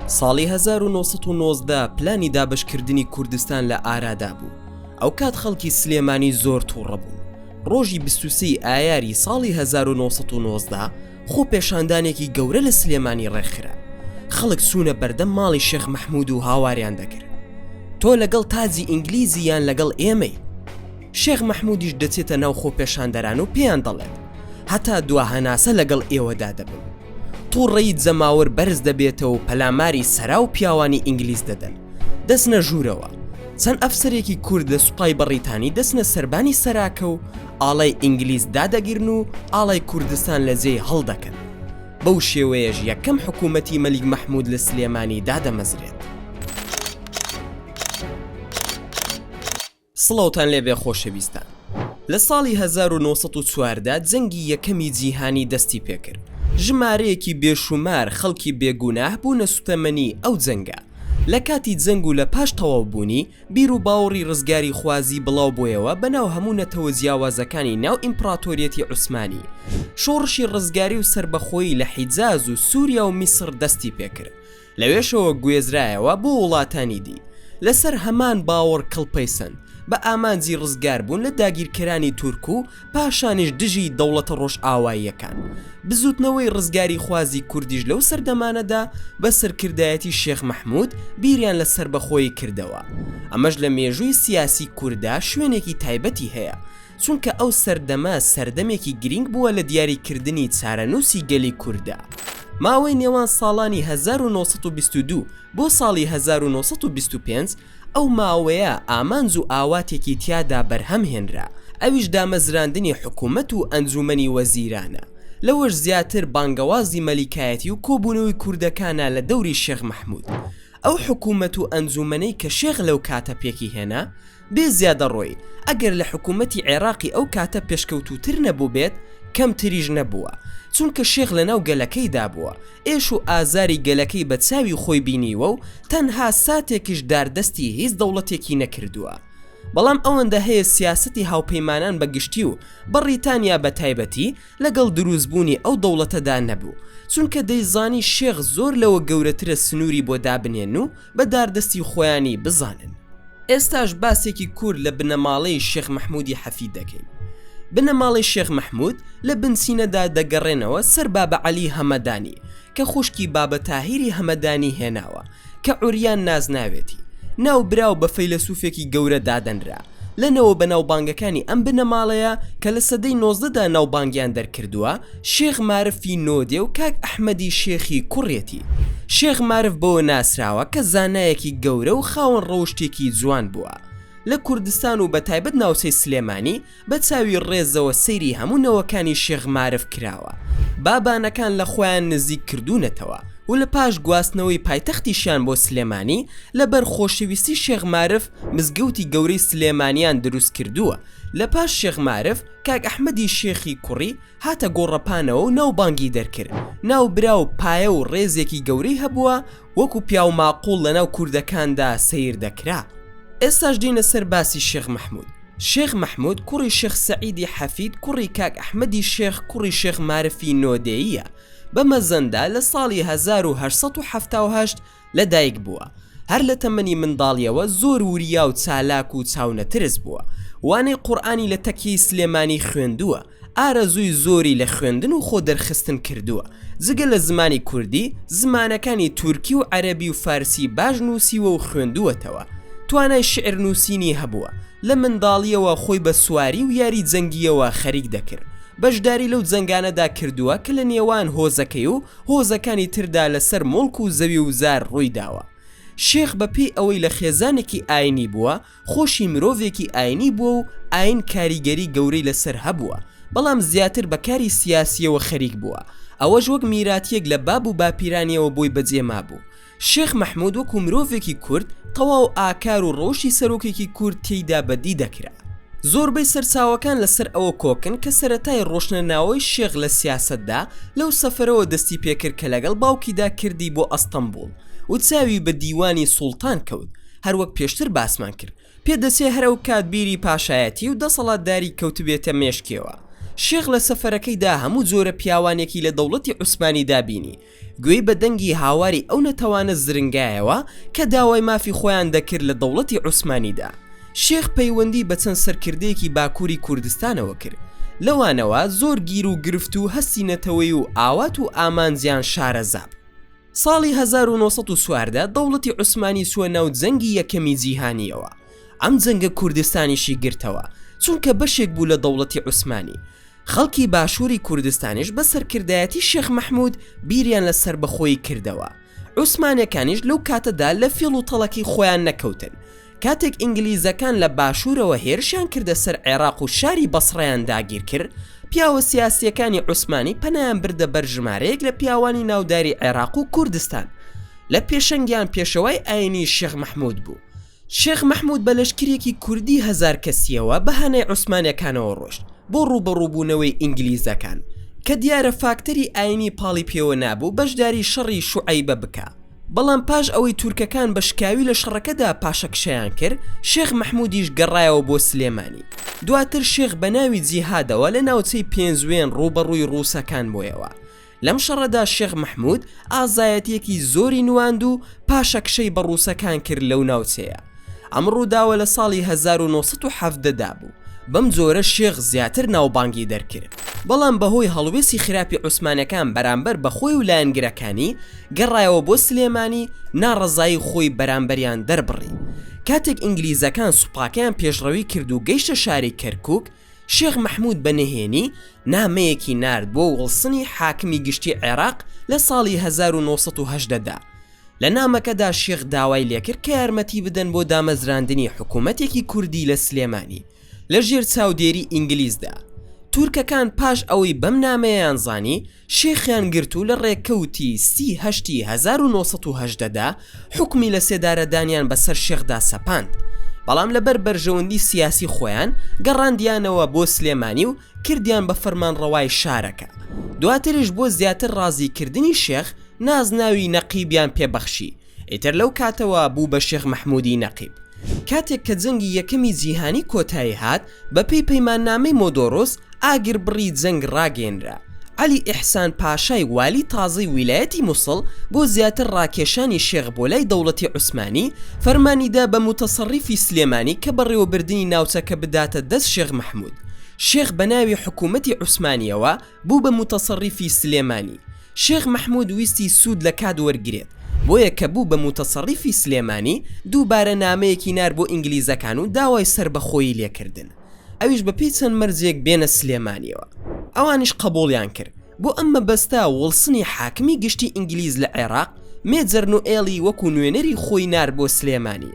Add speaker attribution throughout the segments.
Speaker 1: ساڵی 1990 پلانی دابشکردنی کوردستان لە ئارادا بوو ئەو کات خەڵکی سلێمانی زۆر تووڕە بوو ڕۆژی بسوسی ئایاری ساڵی 1990 خۆ پێشاندانێکی گەورە لە سلێمانی ڕێکخرا خەڵک سوونە بەردەم ماڵی شێخ مححمود و هاواریان دەکرد تۆ لەگەڵ تاجی ئینگلیزی یان لەگەڵ ئێمەی شێخ مەحموودیش دەچێتە ناو خۆپێشاندەران و پێیان دەڵێت، هەتا دوا هەناسە لەگەڵ ئێوەدا دەبم. تووڕەیی جەماوەر بەرز دەبێتەوە و پەلاماری سەرا و پیاوانی ئینگلیز دەدەن. دەچنە ژوورەوە. چەند ئەفسەرێکی کورد لە سوپای بەڕیتانی دەچنە سەربانی سەراکە و ئاڵای ئینگلیز دادەگرن و ئاڵای کوردستان لە جێی هەڵدەکەن. بەو شێوەیەش یەکەم حکوومەتی مەلیک مەحموود لە سلێمانی دادەمەزرێت. سڵاوتان لێبێ خۆشەویستان. لە ساڵی هەزار و نۆ سەد و چواردە جەنگی یەکەمی جیهانی دەستی پێکرد. ژمارەیەکی بێشوومار خەڵکی بێ گوناه بوونە سوتەمەنی ئەو جەنگە. لە کاتی جەنگ و لە پاش تەواو بوونی، بیر و باوڕی ڕزگاریخوازی بڵاو بۆیەوە بە ناو هەموو نەتەوە جیاوازەکانی ناو ئیمپڕاتۆریەتی عوسمانی. شۆڕشی ڕزگاری و سەربەخۆیی لە حیجاز و سووریا و میسڕ دەستی پێکرد. لەوێشەوە گوێزرایەوە بۆ وڵاتانی دی لەسەر هەمان باوەڕ کڵپەیسەند بە ئامانجی ڕزگاربوون لە داگیرکەرانی تورک و پاشانیش دژی دەوڵەتە ڕۆژئاواییەکان. بزووتنەوەی ڕزگاریخوازی کوردیش لەو سەردەمانەدا بە سەرکردایەتی شێخ مەحموود بیریان لە سەربەخۆیی کردەوە. ئەمەش لە مێژووی سیاسی کورددا شوێنێکی تایبەتی هەیە. چونکە ئەو سەردەمە سەردەمێکی گرینگ بووە لە دیاری کردنی چارەنووسی گەلی کورددا. ماوەی نێوان ساڵانی هەزار و نۆ سەد و بیست و دوو بۆ ساڵی هەزار و نۆ سەد و بیست و پێنج ئەو ماوەیە ئامانج و ئاواتێکی تیادا بەرهەم هێنرا ئەویش دامەزراندنی حکوومەت و ئەنجوومەنی وەزیرانە لەوەش زیاتر بانگەوازی مەلیکایەتی و کۆبوونەوەی کوردەکانە لە دەوری شێخ مەحموود ئەو حکوومەت و ئەنجوومەنەی کە شێخ لەو کاتە پێکی هێنا بێ زیادەڕۆیی ئەگەر لە حکوومەتی عێراقی ئەو کاتە پێشکەوتووتر نەبووبێت، کەمتریش نەبووە، چونکە شێخ لەناو گەلەکەیدا بووە، ئێش و ئازاری گەلەکەی بە چاوی خۆی بینیوە و تەنها ساتێکیش داردەستی هیچ دەوڵەتێکی نەکردووە. بەڵام ئەوەندە هەیە سیاسەتی هاوپەیمانان بە گشتی و بەڕیتانیا بە تایبەتی، لەگەڵ دروست بوونی ئەو دەوڵەتەدا نەبوو چونکە دەیزانی شێخ زۆر لەوە گەورەترە سنوری بۆ دابنێن و بە داردەستی خۆیانی بزانن. ئێستاش باسێکی کورت لە بنەماڵەی شێخ مەحمودی حەفید دەکەین. بنەماڵەی شێخ مەحمود لە بنچینەدا دەگەڕێنەوە سەر بابە عەلی هەمەدانی کە خوشکی بابە تاهیری هەمەدانی هێناوە کە عوریان نازناوێتی ناوبراو بە فەیلەسوفێکی گەورە دادەنرا لە نەوە بەناوبانگەکانی ئەم بنەماڵەیە کە لە سەدەی نۆزدەدا ناوبانگیان دەرکردووە شێخ مارفی نۆدێ و کاک ئەحمەدی شێخی کوڕیەتی شێخ مارف بەوە ناسراوە کە زانایەکی گەورە و خاوەن ڕەوشتێکی جوان بووە لە کوردستان و بەتایبەت ناوچەی سلێمانی بە چاوی ڕێزەوە سەیری هەموو نەوەکانی شێخ مارف کراوە با بانەکان لە خۆیان نزیک کردوونەتەوە و لە پاش گواستنەوەی پایتەختیشیان بۆ سلێمانی لە بەر خۆشەویستی شێخ مارف مزگەوتی گەورەی سلێمانیان دروست کردووە لە پاش شێخ مارف کاک ئەحمەدی شێخی کوڕی هاتە گۆڕەپانەوە و ناوبانگی دەرکرد ناوبراو پایە و ڕێزێکی گەورەی هەبووە وەکو پیاو ماقوڵ لەناو کوردەکاندا سەیر دەکرا ئێستاش دینە سەر باسی شێخ مەحمود شێخ مەحمود کوڕی شێخ سەعیدی حەفید کوڕی کاک ئەحمەدی شێخ کوڕی شێخ مارفی نۆدێیە بە مەزەندا لە ساڵی 1970 لە دایک بووە هەر لە تەمەنی منداڵیەوە زۆر وریا و چالاک و چاونەترس بووە وانەی قورآانی لە تەکیەی سلێمانی خوێندووە ئارەزووی زۆری لە خوێندن و خۆ دەرخستن کردووە، جگە لە زمانی کوردی، زمانەکانی تورکی و عەرەبی و فارسی باش نووسیوە و خوێندووەتەوە، توانای شیعر نووسینی هەبووە، لە منداڵییەوە خۆی بە سواری و یاری جەنگییەوە خەریک دەکرد، بەشداری لەو جەنگانەدا کردووە کە لە نێوان هۆزەکەی و هۆزەکانی تردا لە سەر موڵک و زەوی و زار ڕووی داوە. شێخ بە پێی ئەوەی لە خێزانێکی ئاینی بووە، خۆشی مرۆڤێکی ئاینی بووە و ئاین کاریگەری گەورەی لەسەر هەبووە، بەڵام زیاتر بە کاری سیاسییەوە خەریک بووە، ئەوەش وەک میراتییەک لە باب و باپیرانییەوە بۆی بەجێ مابوو. شێخ مەحموود وەکوو مرۆڤێکی کورد، تەواو ئاکار و ڕەوشی سەرۆکێکی کورد تێیدا بەدی دەکرا. زۆربەی سەرچاوەکان لەسەر ئەوە کۆکن کە سەرەتای ڕۆشننەوەی شێخ لە سیاسەتدا لەو سەفەرەوە دەستی پێ کرد کە لەگەڵ باوکیدا کردی بۆ ئەستەنبووڵ و چاوی بە دیوانی سوڵتان کەوت، هەروەک پێشتر باسمان کرد پێ دەچێ هەر ئەو کات بیری پاشایەتی و دەسەڵاتداری کەوتبێتە مێشکیەوە. شێخ لە سەفەرەکەیدا هەموو جۆرە پیاوانێکی لە دەوڵەتی عوسمانیدا بینی، گوێی بە دەنگی هاواری ئەو نەتەوانە زرنگایەوە کە داوای مافی خۆیان دەکرد لە دەوڵەتی عوسمانیدا. شێخ پەیوەندی بە چەند سەرکردەیەکی باکووری کوردستانەوە کرد، لەوانەوە زۆر گیر و گرفت و هەستی نەتەوەیی و ئاوات و ئامانجیان شارەزا بوو. ساڵی هەزار و نۆ سەد و چواردە دەوڵەتی عوسمانی چووە ناو جەنگی یەکەمی جیهانییەوە ئەم جەنگە کوردستانیشی گرتەوە چونکە بەشێک بوو لە دەوڵەتی عوسمانی خەڵکی باشووری کوردستانیش بە سەرکردایەتی شێخ مەحمود بیریان لە سەربەخۆیی کردەوە عوسمانەکانیش لەو کاتەدا لە فیڵ و تەڵەکەی خۆیان نەکەوتن کاتێک ئینگلیزەکان لە باشوورەوە هێرشیان کردە سەر عێراق و شاری بەسڕەیان داگیرکرد، پیاوە سیاسییەکانی عوسمانی پەنایان بردە بەر ژمارەیەک لە پیاوانی ناوداری عێراق و کوردستان، لە پێشەنگیان پێشەوای ئایینی شێخ مەحموود بوو. شێخ مەحموود بە لەشکرێکی کوردی هەزار کەسییەوە بە هانای عوسمانەکانەوە ڕۆشت بۆ ڕووبەڕووبوونەوەی ئینگلیزەکان، کە دیارە فاکتەری ئایینی پاڵی پێوە نابوو بەشداری شەڕی شوعەیبە بکا. بەڵام پاش ئەوەی تورکەکان بە شکاوی لە شەڕەکەدا پاشەکشەیان کرد شێخ مەحمودیش گەڕایەوە بۆ سلێمانی دواتر شێخ بە ناوی جیهادەوە لە ناوچەی پێنجوێن ڕووبەڕووی ڕووسەکان بۆیەوە لەم شەڕەدا شێخ مەحمود ئازایەتیەکی زۆری نواند و پاشەکشەی بە ڕووسەکان کرد لەو ناوچەیە ئەم ڕووداوە لە ساڵی هەزار و نۆ سەد و حەڤدە دا بوو، بەم جۆرە شێخ زیاتر ناوبانگی دەرکرد، بەڵام بەهۆی هەڵوێستی خراپی عوسمانەکان بەرامبەر بە خۆی و لایەنگرەکانی، گەڕایەوە بۆ سلێمانی، ناڕەزایی خۆی بەرامبەریان دەربڕی. کاتێک ئینگلیزەکان سوپاکەیان پێشڕەوی کرد و گەیشتە شاری کەرکووک، شێخ مەحموود بە نهێنی نامەیەکی نارد بۆ وڵسنی حاکمی گشتی عێراق لە ساڵی هەزار و نۆ سەد و هەژدە دا، لە نامەکەدا شێخ داوای لێکرد کە یارمەتی بدەن بۆ دامەزراندنی حکوومەتێکی کوردی لە سلێمانی لە ژێر چاودێری ئینگلیزدا. تورکەکان پاش ئەوەی بەم نامەیەیان زانی، شێخیان گرت و لە ڕێکەوتی سی هەشتی هەزار و نۆ سەد و هەژدە دا حوکمی لە سێدارەدانیان بە سەر شێخدا سەپاند، بەڵام لە بەر بەرژەوەندی سیاسی خۆیان گەڕاندیانەوە بۆ سلێمانی و کردیان بە فەرمانڕەوای شارەکە. دواتریش بۆ زیاتر ڕازی کردنی شێخ، نازناوی نەقیبیان پێ بەخشی، ئیتر لەو کاتەوە بوو بە شێخ مەحموودی نەقیب. کاتێک کە جەنگی یەکەمی جیهانی کۆتایی هات، بە پێی پەیماننامەی مۆدۆروس، ئاگربڕی جەنگ ڕاگەیەنرا. عەلی ئیحسان پاشای والی تازەی ویلایەتی موسڵ بۆ زیاتر ڕاکێشانی شێخ بۆ لای دەوڵەتی عوسمانی، فەرمانی دا بە موتەسەڕیفی سلێمانی کە بەڕێوەبردنی ناوچەکە بداتە دەست شێخ مەحموود. شێخ بە ناوی حکوومەتی عوسمانییەوە، بوو بە موتەسەڕیفی سلێمانی. شێخ مەحمود ویستی سوود لە کات وەرگرێت، بۆیە کە بوو بە موتەسەڕیفی سلێمانی، دووبارە نامەیەکی نارد بۆ ئینگلیزەکان و داوای سەربەخۆیی لێ کردن، ئەویش بە پێی چەند مەرجێک بێنە سلێمانییەوە. ئەوانیش قەبووڵیان کرد. بۆ ئەم مەبەستە وڵسنی حاکمی گشتی ئینگلیز لە عێراق، مێجەر نوئێڵی وەکوو نوێنەری خۆی نارد بۆ سلێمانی.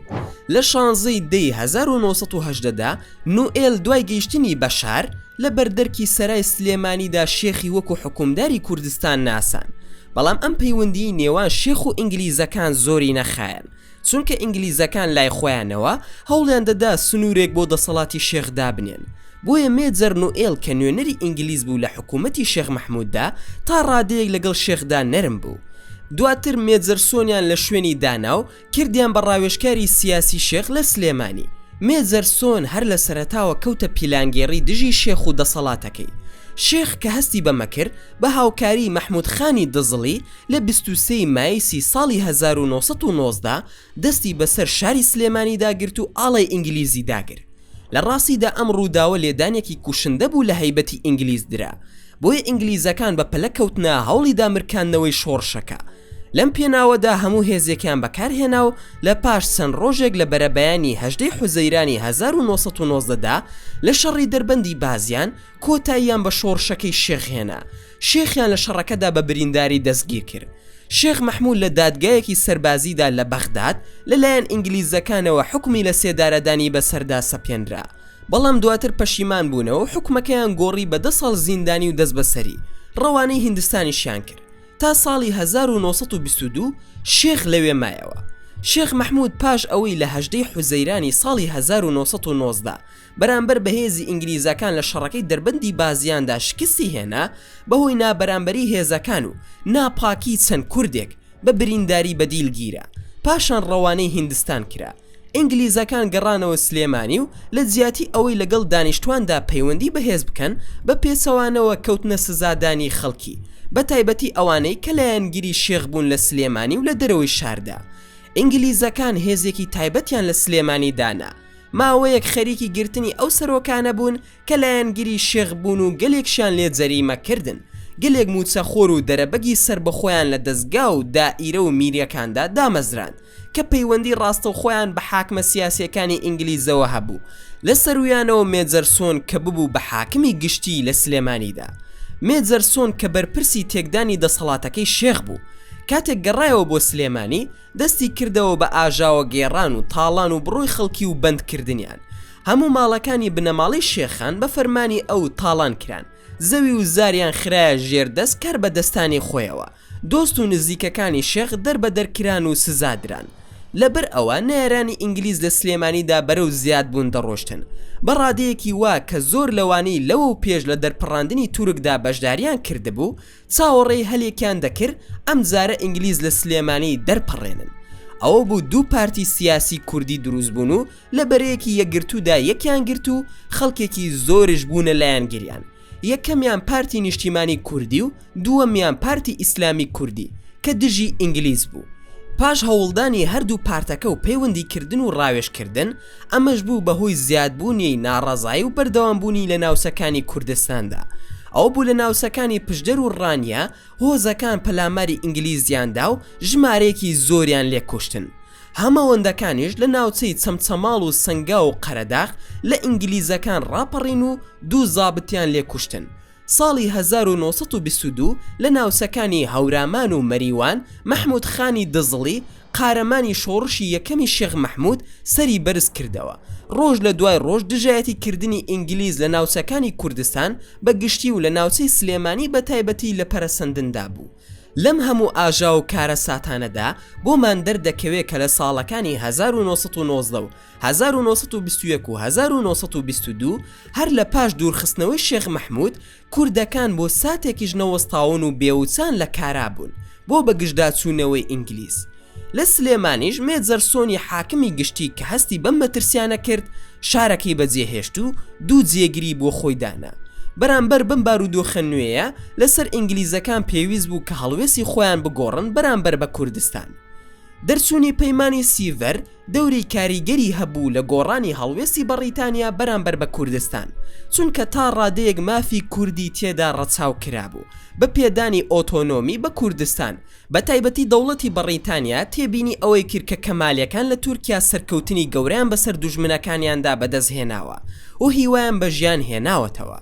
Speaker 1: لە شانزەی دەی هەزار و نۆ سەد و هەژدە دا، نوئێل دوای گەیشتنی بەشار لە بەردەرکی سەرای سلێمانیدا شێخی وەکو حوکمداری کوردستان ناسان بەڵام ئەم پەیوەندیی نێوان شێخ و ئینگلیزەکان زۆری نەخایەند چونکە ئینگلیزەکان لای خۆیانەوە هەوڵیان دەدا سنوورێک بۆ دەسەڵاتی شێخ دابنێن بۆیە مێجەر نوئێل کە نوێنەری ئینگلیز بوو لە حکوومەتی شێخ مەحمووددا تا ڕادەیەک لەگەڵ شێخدا نەرم بوو دواتر مێجەر سۆنیان لە شوێنی دانا و کردیان بە ڕاوێژکاری سیاسی شێخ لە سلێمانی. مێجەر سۆن هەر لە سەرەتاوە کەوتە پیلانگێڕی دژی شێخ و دەسەڵاتەکەی. شێخ کە هەستی بەمە کرد، بە هاوکاریی مەحموود خانی دزڵی لە بیست و سێ ی مایسی ساڵی هەزار و نۆ سەد و نۆزدە دەستی بەسەر شاری سلێمانیدا گرت و ئاڵای ئینگلیزی داگرت. لە ڕاستیدا ئەم ڕووداوە لێدانێکی کوشندە بوو لە هەیبەتی ئینگلیز درا، بۆیە ئینگلیزەکان بە پەلە کەوتنە هەوڵی دامرکاندنەوەی شۆڕشەکە. لەم پێناوەدا هەموو هێزێکیان بەکارهێنا و لە پاش چەند ڕۆژێک لە بەرەبەیانی هەژدەی حوزەیرانی 1990 دا لە شەڕی دەربەندی بازیان کۆتاییان بە شۆڕشەکەی شێخ هێنا شێخیان لە شەڕەکەدا بە برینداری دەستگیر کرد شێخ مەحموود لە دادگایەکی سەربازیدا لە بەغداد لەلایەن ئینگلیزەکانەوە حکومی لە سێدارەدانی بەسەردا سەپێنرا بەڵام دواتر پەشیمان بوونەوە حکومەکەیان گۆڕی بە دە ساڵ زیندانی و دەستبەسەری ڕەوانەی هیندستانیشیان کرد تا ساڵی هەزار و نۆ سەد و بیست و دوو شێخ لەوێ مایەوە. شێخ مەحموود پاش ئەوەی لە هەژدە ی حوزەیرانی ساڵی هەزار و نۆ سەد و نۆزدە بەرامبەر بە هێزی ئینگلیزەکان لە شەڕەکەی دەربەندی بازیاندا شکستی هێنا بەهۆی نابەرامبەری هێزەکان و ناپاکی چەند کوردێک بە برینداری بەدیل گیرا پاشان ڕەوانەی هیندستان کرا. ئینگلیزەکان گەڕانەوە سلێمانی و لە جیاتی ئەوەی لەگەڵ دانیشتواندا پەیوەندی بەهێز بکەن، بە پێچەوانەوە کەوتنە سزادانی خەڵکی، بە تایبەتی ئەوانەی کە لایەنگری شێخ بوون لە سلێمانی و لە دەرەوەی شاردا. ئینگلیزەکان هێزێکی تایبەتیان لە سلێمانی دانا. ماوەیەک خەریکی گرتنی ئەو سەرۆکانە بوون کە لایەنگری شێخ بوون و گەلێکشیان لێ جەریمە کردن، گەلێک مووچە خۆر و دەرەبەگی سەربەخۆیان لە دەزگا و دائیرە و میرەکاندا دامەزراند کە پەیوەندی ڕاستەوخۆیان بە حاکمە سیاسیەکانی ئینگلیزەوە هەبوو لە سەروویانەوە مێجەر سۆن کە ببوو بە حاکمی گشتی لە سلێمانیدا مێجەر سۆن کە بەرپرسی تێکدانی دەسەڵاتەکەی شێخ بوو کاتێک گەڕایەوە بۆ سلێمانی دەستی کردەوە بە ئاژاوە گێڕان و تاڵان و بڕۆی خەڵکی و بەند کردنیان هەموو ماڵەکانی بنەماڵەی شێخان بە فەرمانی ئەو تاڵان کران، زەوی و زاریان خرایە ژێر دەست کاربەدەستانی خۆیەوە، دۆست و نزیکەکانی شێخ دەربەدەر کران و سزا دران. لەبەر ئەوە نەیارانی ئینگلیز لە سلێمانیدا بەرەو زیاد بوون دەڕۆشتن، بە ڕادەیەکی وا کە زۆر لەوانەی لەوەو پێش لە دەرپەڕاندنی تورکدا بەشداریان کردبوو، چاوەڕێی هەلێکیان دەکرد ئەم جارە ئینگلیز لە سلێمانی دەرپەڕێنن ئەوە بوو دوو پارتی سیاسی کوردی دروست بوون و لە بەرەیەکی یەکگرتوودا یەکیان گرت و خەڵکێکی زۆرش بوونە لایەنگریان یەکەمیان پارتی نیشتیمانی کوردی و دووەمیان پارتی ئیسلامی کوردی کە دژی ئینگلیز بوو پاش هەوڵدانی هەردوو پارتەکە و پەیوەندی کردن و ڕاوێژ کردن ئەمەش بوو بە هۆی زیادبوونی ناڕەزایی و بەردەوام بوونی لە ناوچەکانی کوردستاندا ئەوە بوو لە ناوچەکانی پشدەر و ڕانیە هۆزەکان پەلاماری ئینگلیزیان دا و ژمارەیەکی زۆریان لێ کوشتن هەمەوەندەکانیش لە ناوچەی چەمچەماڵ و سەنگاو و قەرەداخ لە ئینگلیزەکان ڕاپەڕین و دوو زابتیان لێ کوشتن ساڵی هەزار و نۆ سەد و بیست و دوو لە ناوچەکانی هەورامان و مەریوان، مەحموود خانی دزڵی، قارەمانی شۆڕشی یەکەمی شێخ مەحموود سەری بەرز کردەوە. ڕۆژ لە دوای ڕۆژ دژایەتی کردنی ئینگلیز لە ناوچەکانی کوردستان بە گشتی و لە ناوچەی سلێمانی بە تایبەتی لە پەرەسەندندا بوو. لەم هەموو ئاژاو و کارەساتانەدا بۆمان دەردەکەوێ کە لە ساڵەکانی هەزار و نۆ سەد و نۆزدە و هەزار و نۆ سەد و بیست و یەک و هەزار و نۆ سەد و بیست و دوو هەر لە پاش دوورخستنەوەی شێخ مەحموود، کوردەکان بۆ ساتێکیش نەوەستاون و بێوچان لە کارا بوون بۆ بەگژداچوونەوەی ئینگلیز. لە سلێمانیش مێجەرسۆنی حاکمی گشتی کە هەستی بەم مەترسیانە کرد، شارەکەی بەجێهێشت و دوو جێگری بۆ خۆی دانا. بەرامبەر بەم بارودۆخە نوێیە لە سەر ئینگلیزەکان پێویست بوو کە هەڵوێستی خۆیان بگۆڕن بەرامبەر بە کوردستان. دەرچوونی پەیمانی سیڤەر دەوری کاریگەری هەبوو لە گۆڕانی هەڵوێستی بەڕیتانیا بەرامبەر بە کوردستان، چونکە تا ڕادەیەک مافی کوردی تێدا ڕەچاو کرابوو بە پێدانی ئۆتۆنۆمی بە کوردستان، بە تایبەتی دەوڵەتی بەڕیتانیا تێبینی ئەوەی کرد کە کەمالیەکان لە تورکیا سەرکەوتنی گەورەیان بەسەر دوژمنەکانیاندا بەدەست هێناوە و هیوایان بە ژیان هێناوەتەوە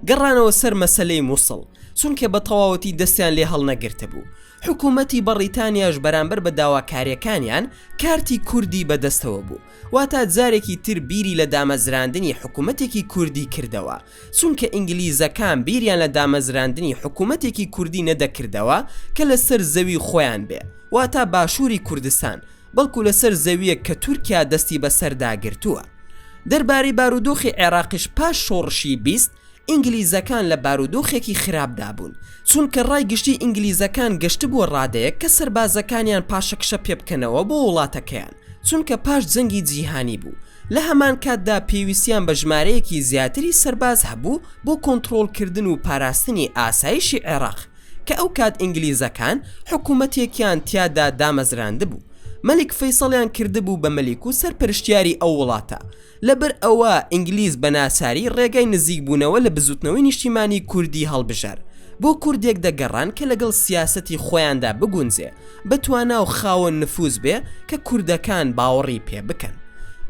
Speaker 1: گەڕانەوە سەر مەسەلەی موسڵ چونکە بە تەواوەتی دەستیان لێ هەڵنەگرتبوو، حکوومەتی بەڕیتانیاش بەرامبەر بە داواکاریەکانیان، کارتی کوردی بەدەستەوە بوو، واتا جارێکی تر بیری لە دامەزراندنی حکوومەتێکی کوردی کردەوە، چونکە ئینگلیزەکان بیریان لە دامەزراندنی حکوومەتێکی کوردی نەدەکردەوە کە لەسەر زەوی خۆیان بێ، واتا باشووری کوردستان، بەڵکو لەسەر زەوییەک کە تورکیا دەستی بەسەردا گرتووە. دەربارەی بارودۆخی عێراقیش پاش شۆڕشی بیست، ئینگلیزەکان لە بارودۆخێکی خراپدا بوون، چونکە ڕای گشتی ئینگلیزەکان گەشتبووە ڕادەیەک کە سەربازەکانیان پاشەکشە پێبکەنەوە بۆ وڵاتەکەیان، چونکە پاش جەنگی جیهانی بوو، لە هەمان کاتدا پێویستیان بە ژمارەیەکی زیاتری سەرباز هەبوو بۆ کۆنتڕۆڵکردن و پاراستنی ئاسایشی عێراق، کە ئەوکات ئینگلیزەکان حکومەتێکیان تیادا دامەزراندبوو، مەلیک فەیسەڵیان کردبوو بە مەلیک و سەرپەرشتیاری ئەو وڵاتە، لەبەر ئەوە ئینگلیز بە ناچاری ڕێگای نزیک بوونەوە لە بزووتنەوەی نیشتیمانی کوردی هەڵبژار بۆ کوردێک دەگەڕان کە لەگەڵ سیاسەتی خۆیاندا بگونجێ بە توانا و خاوەن نفووز بێ کە کوردەکان باوەڕی پێ بکەن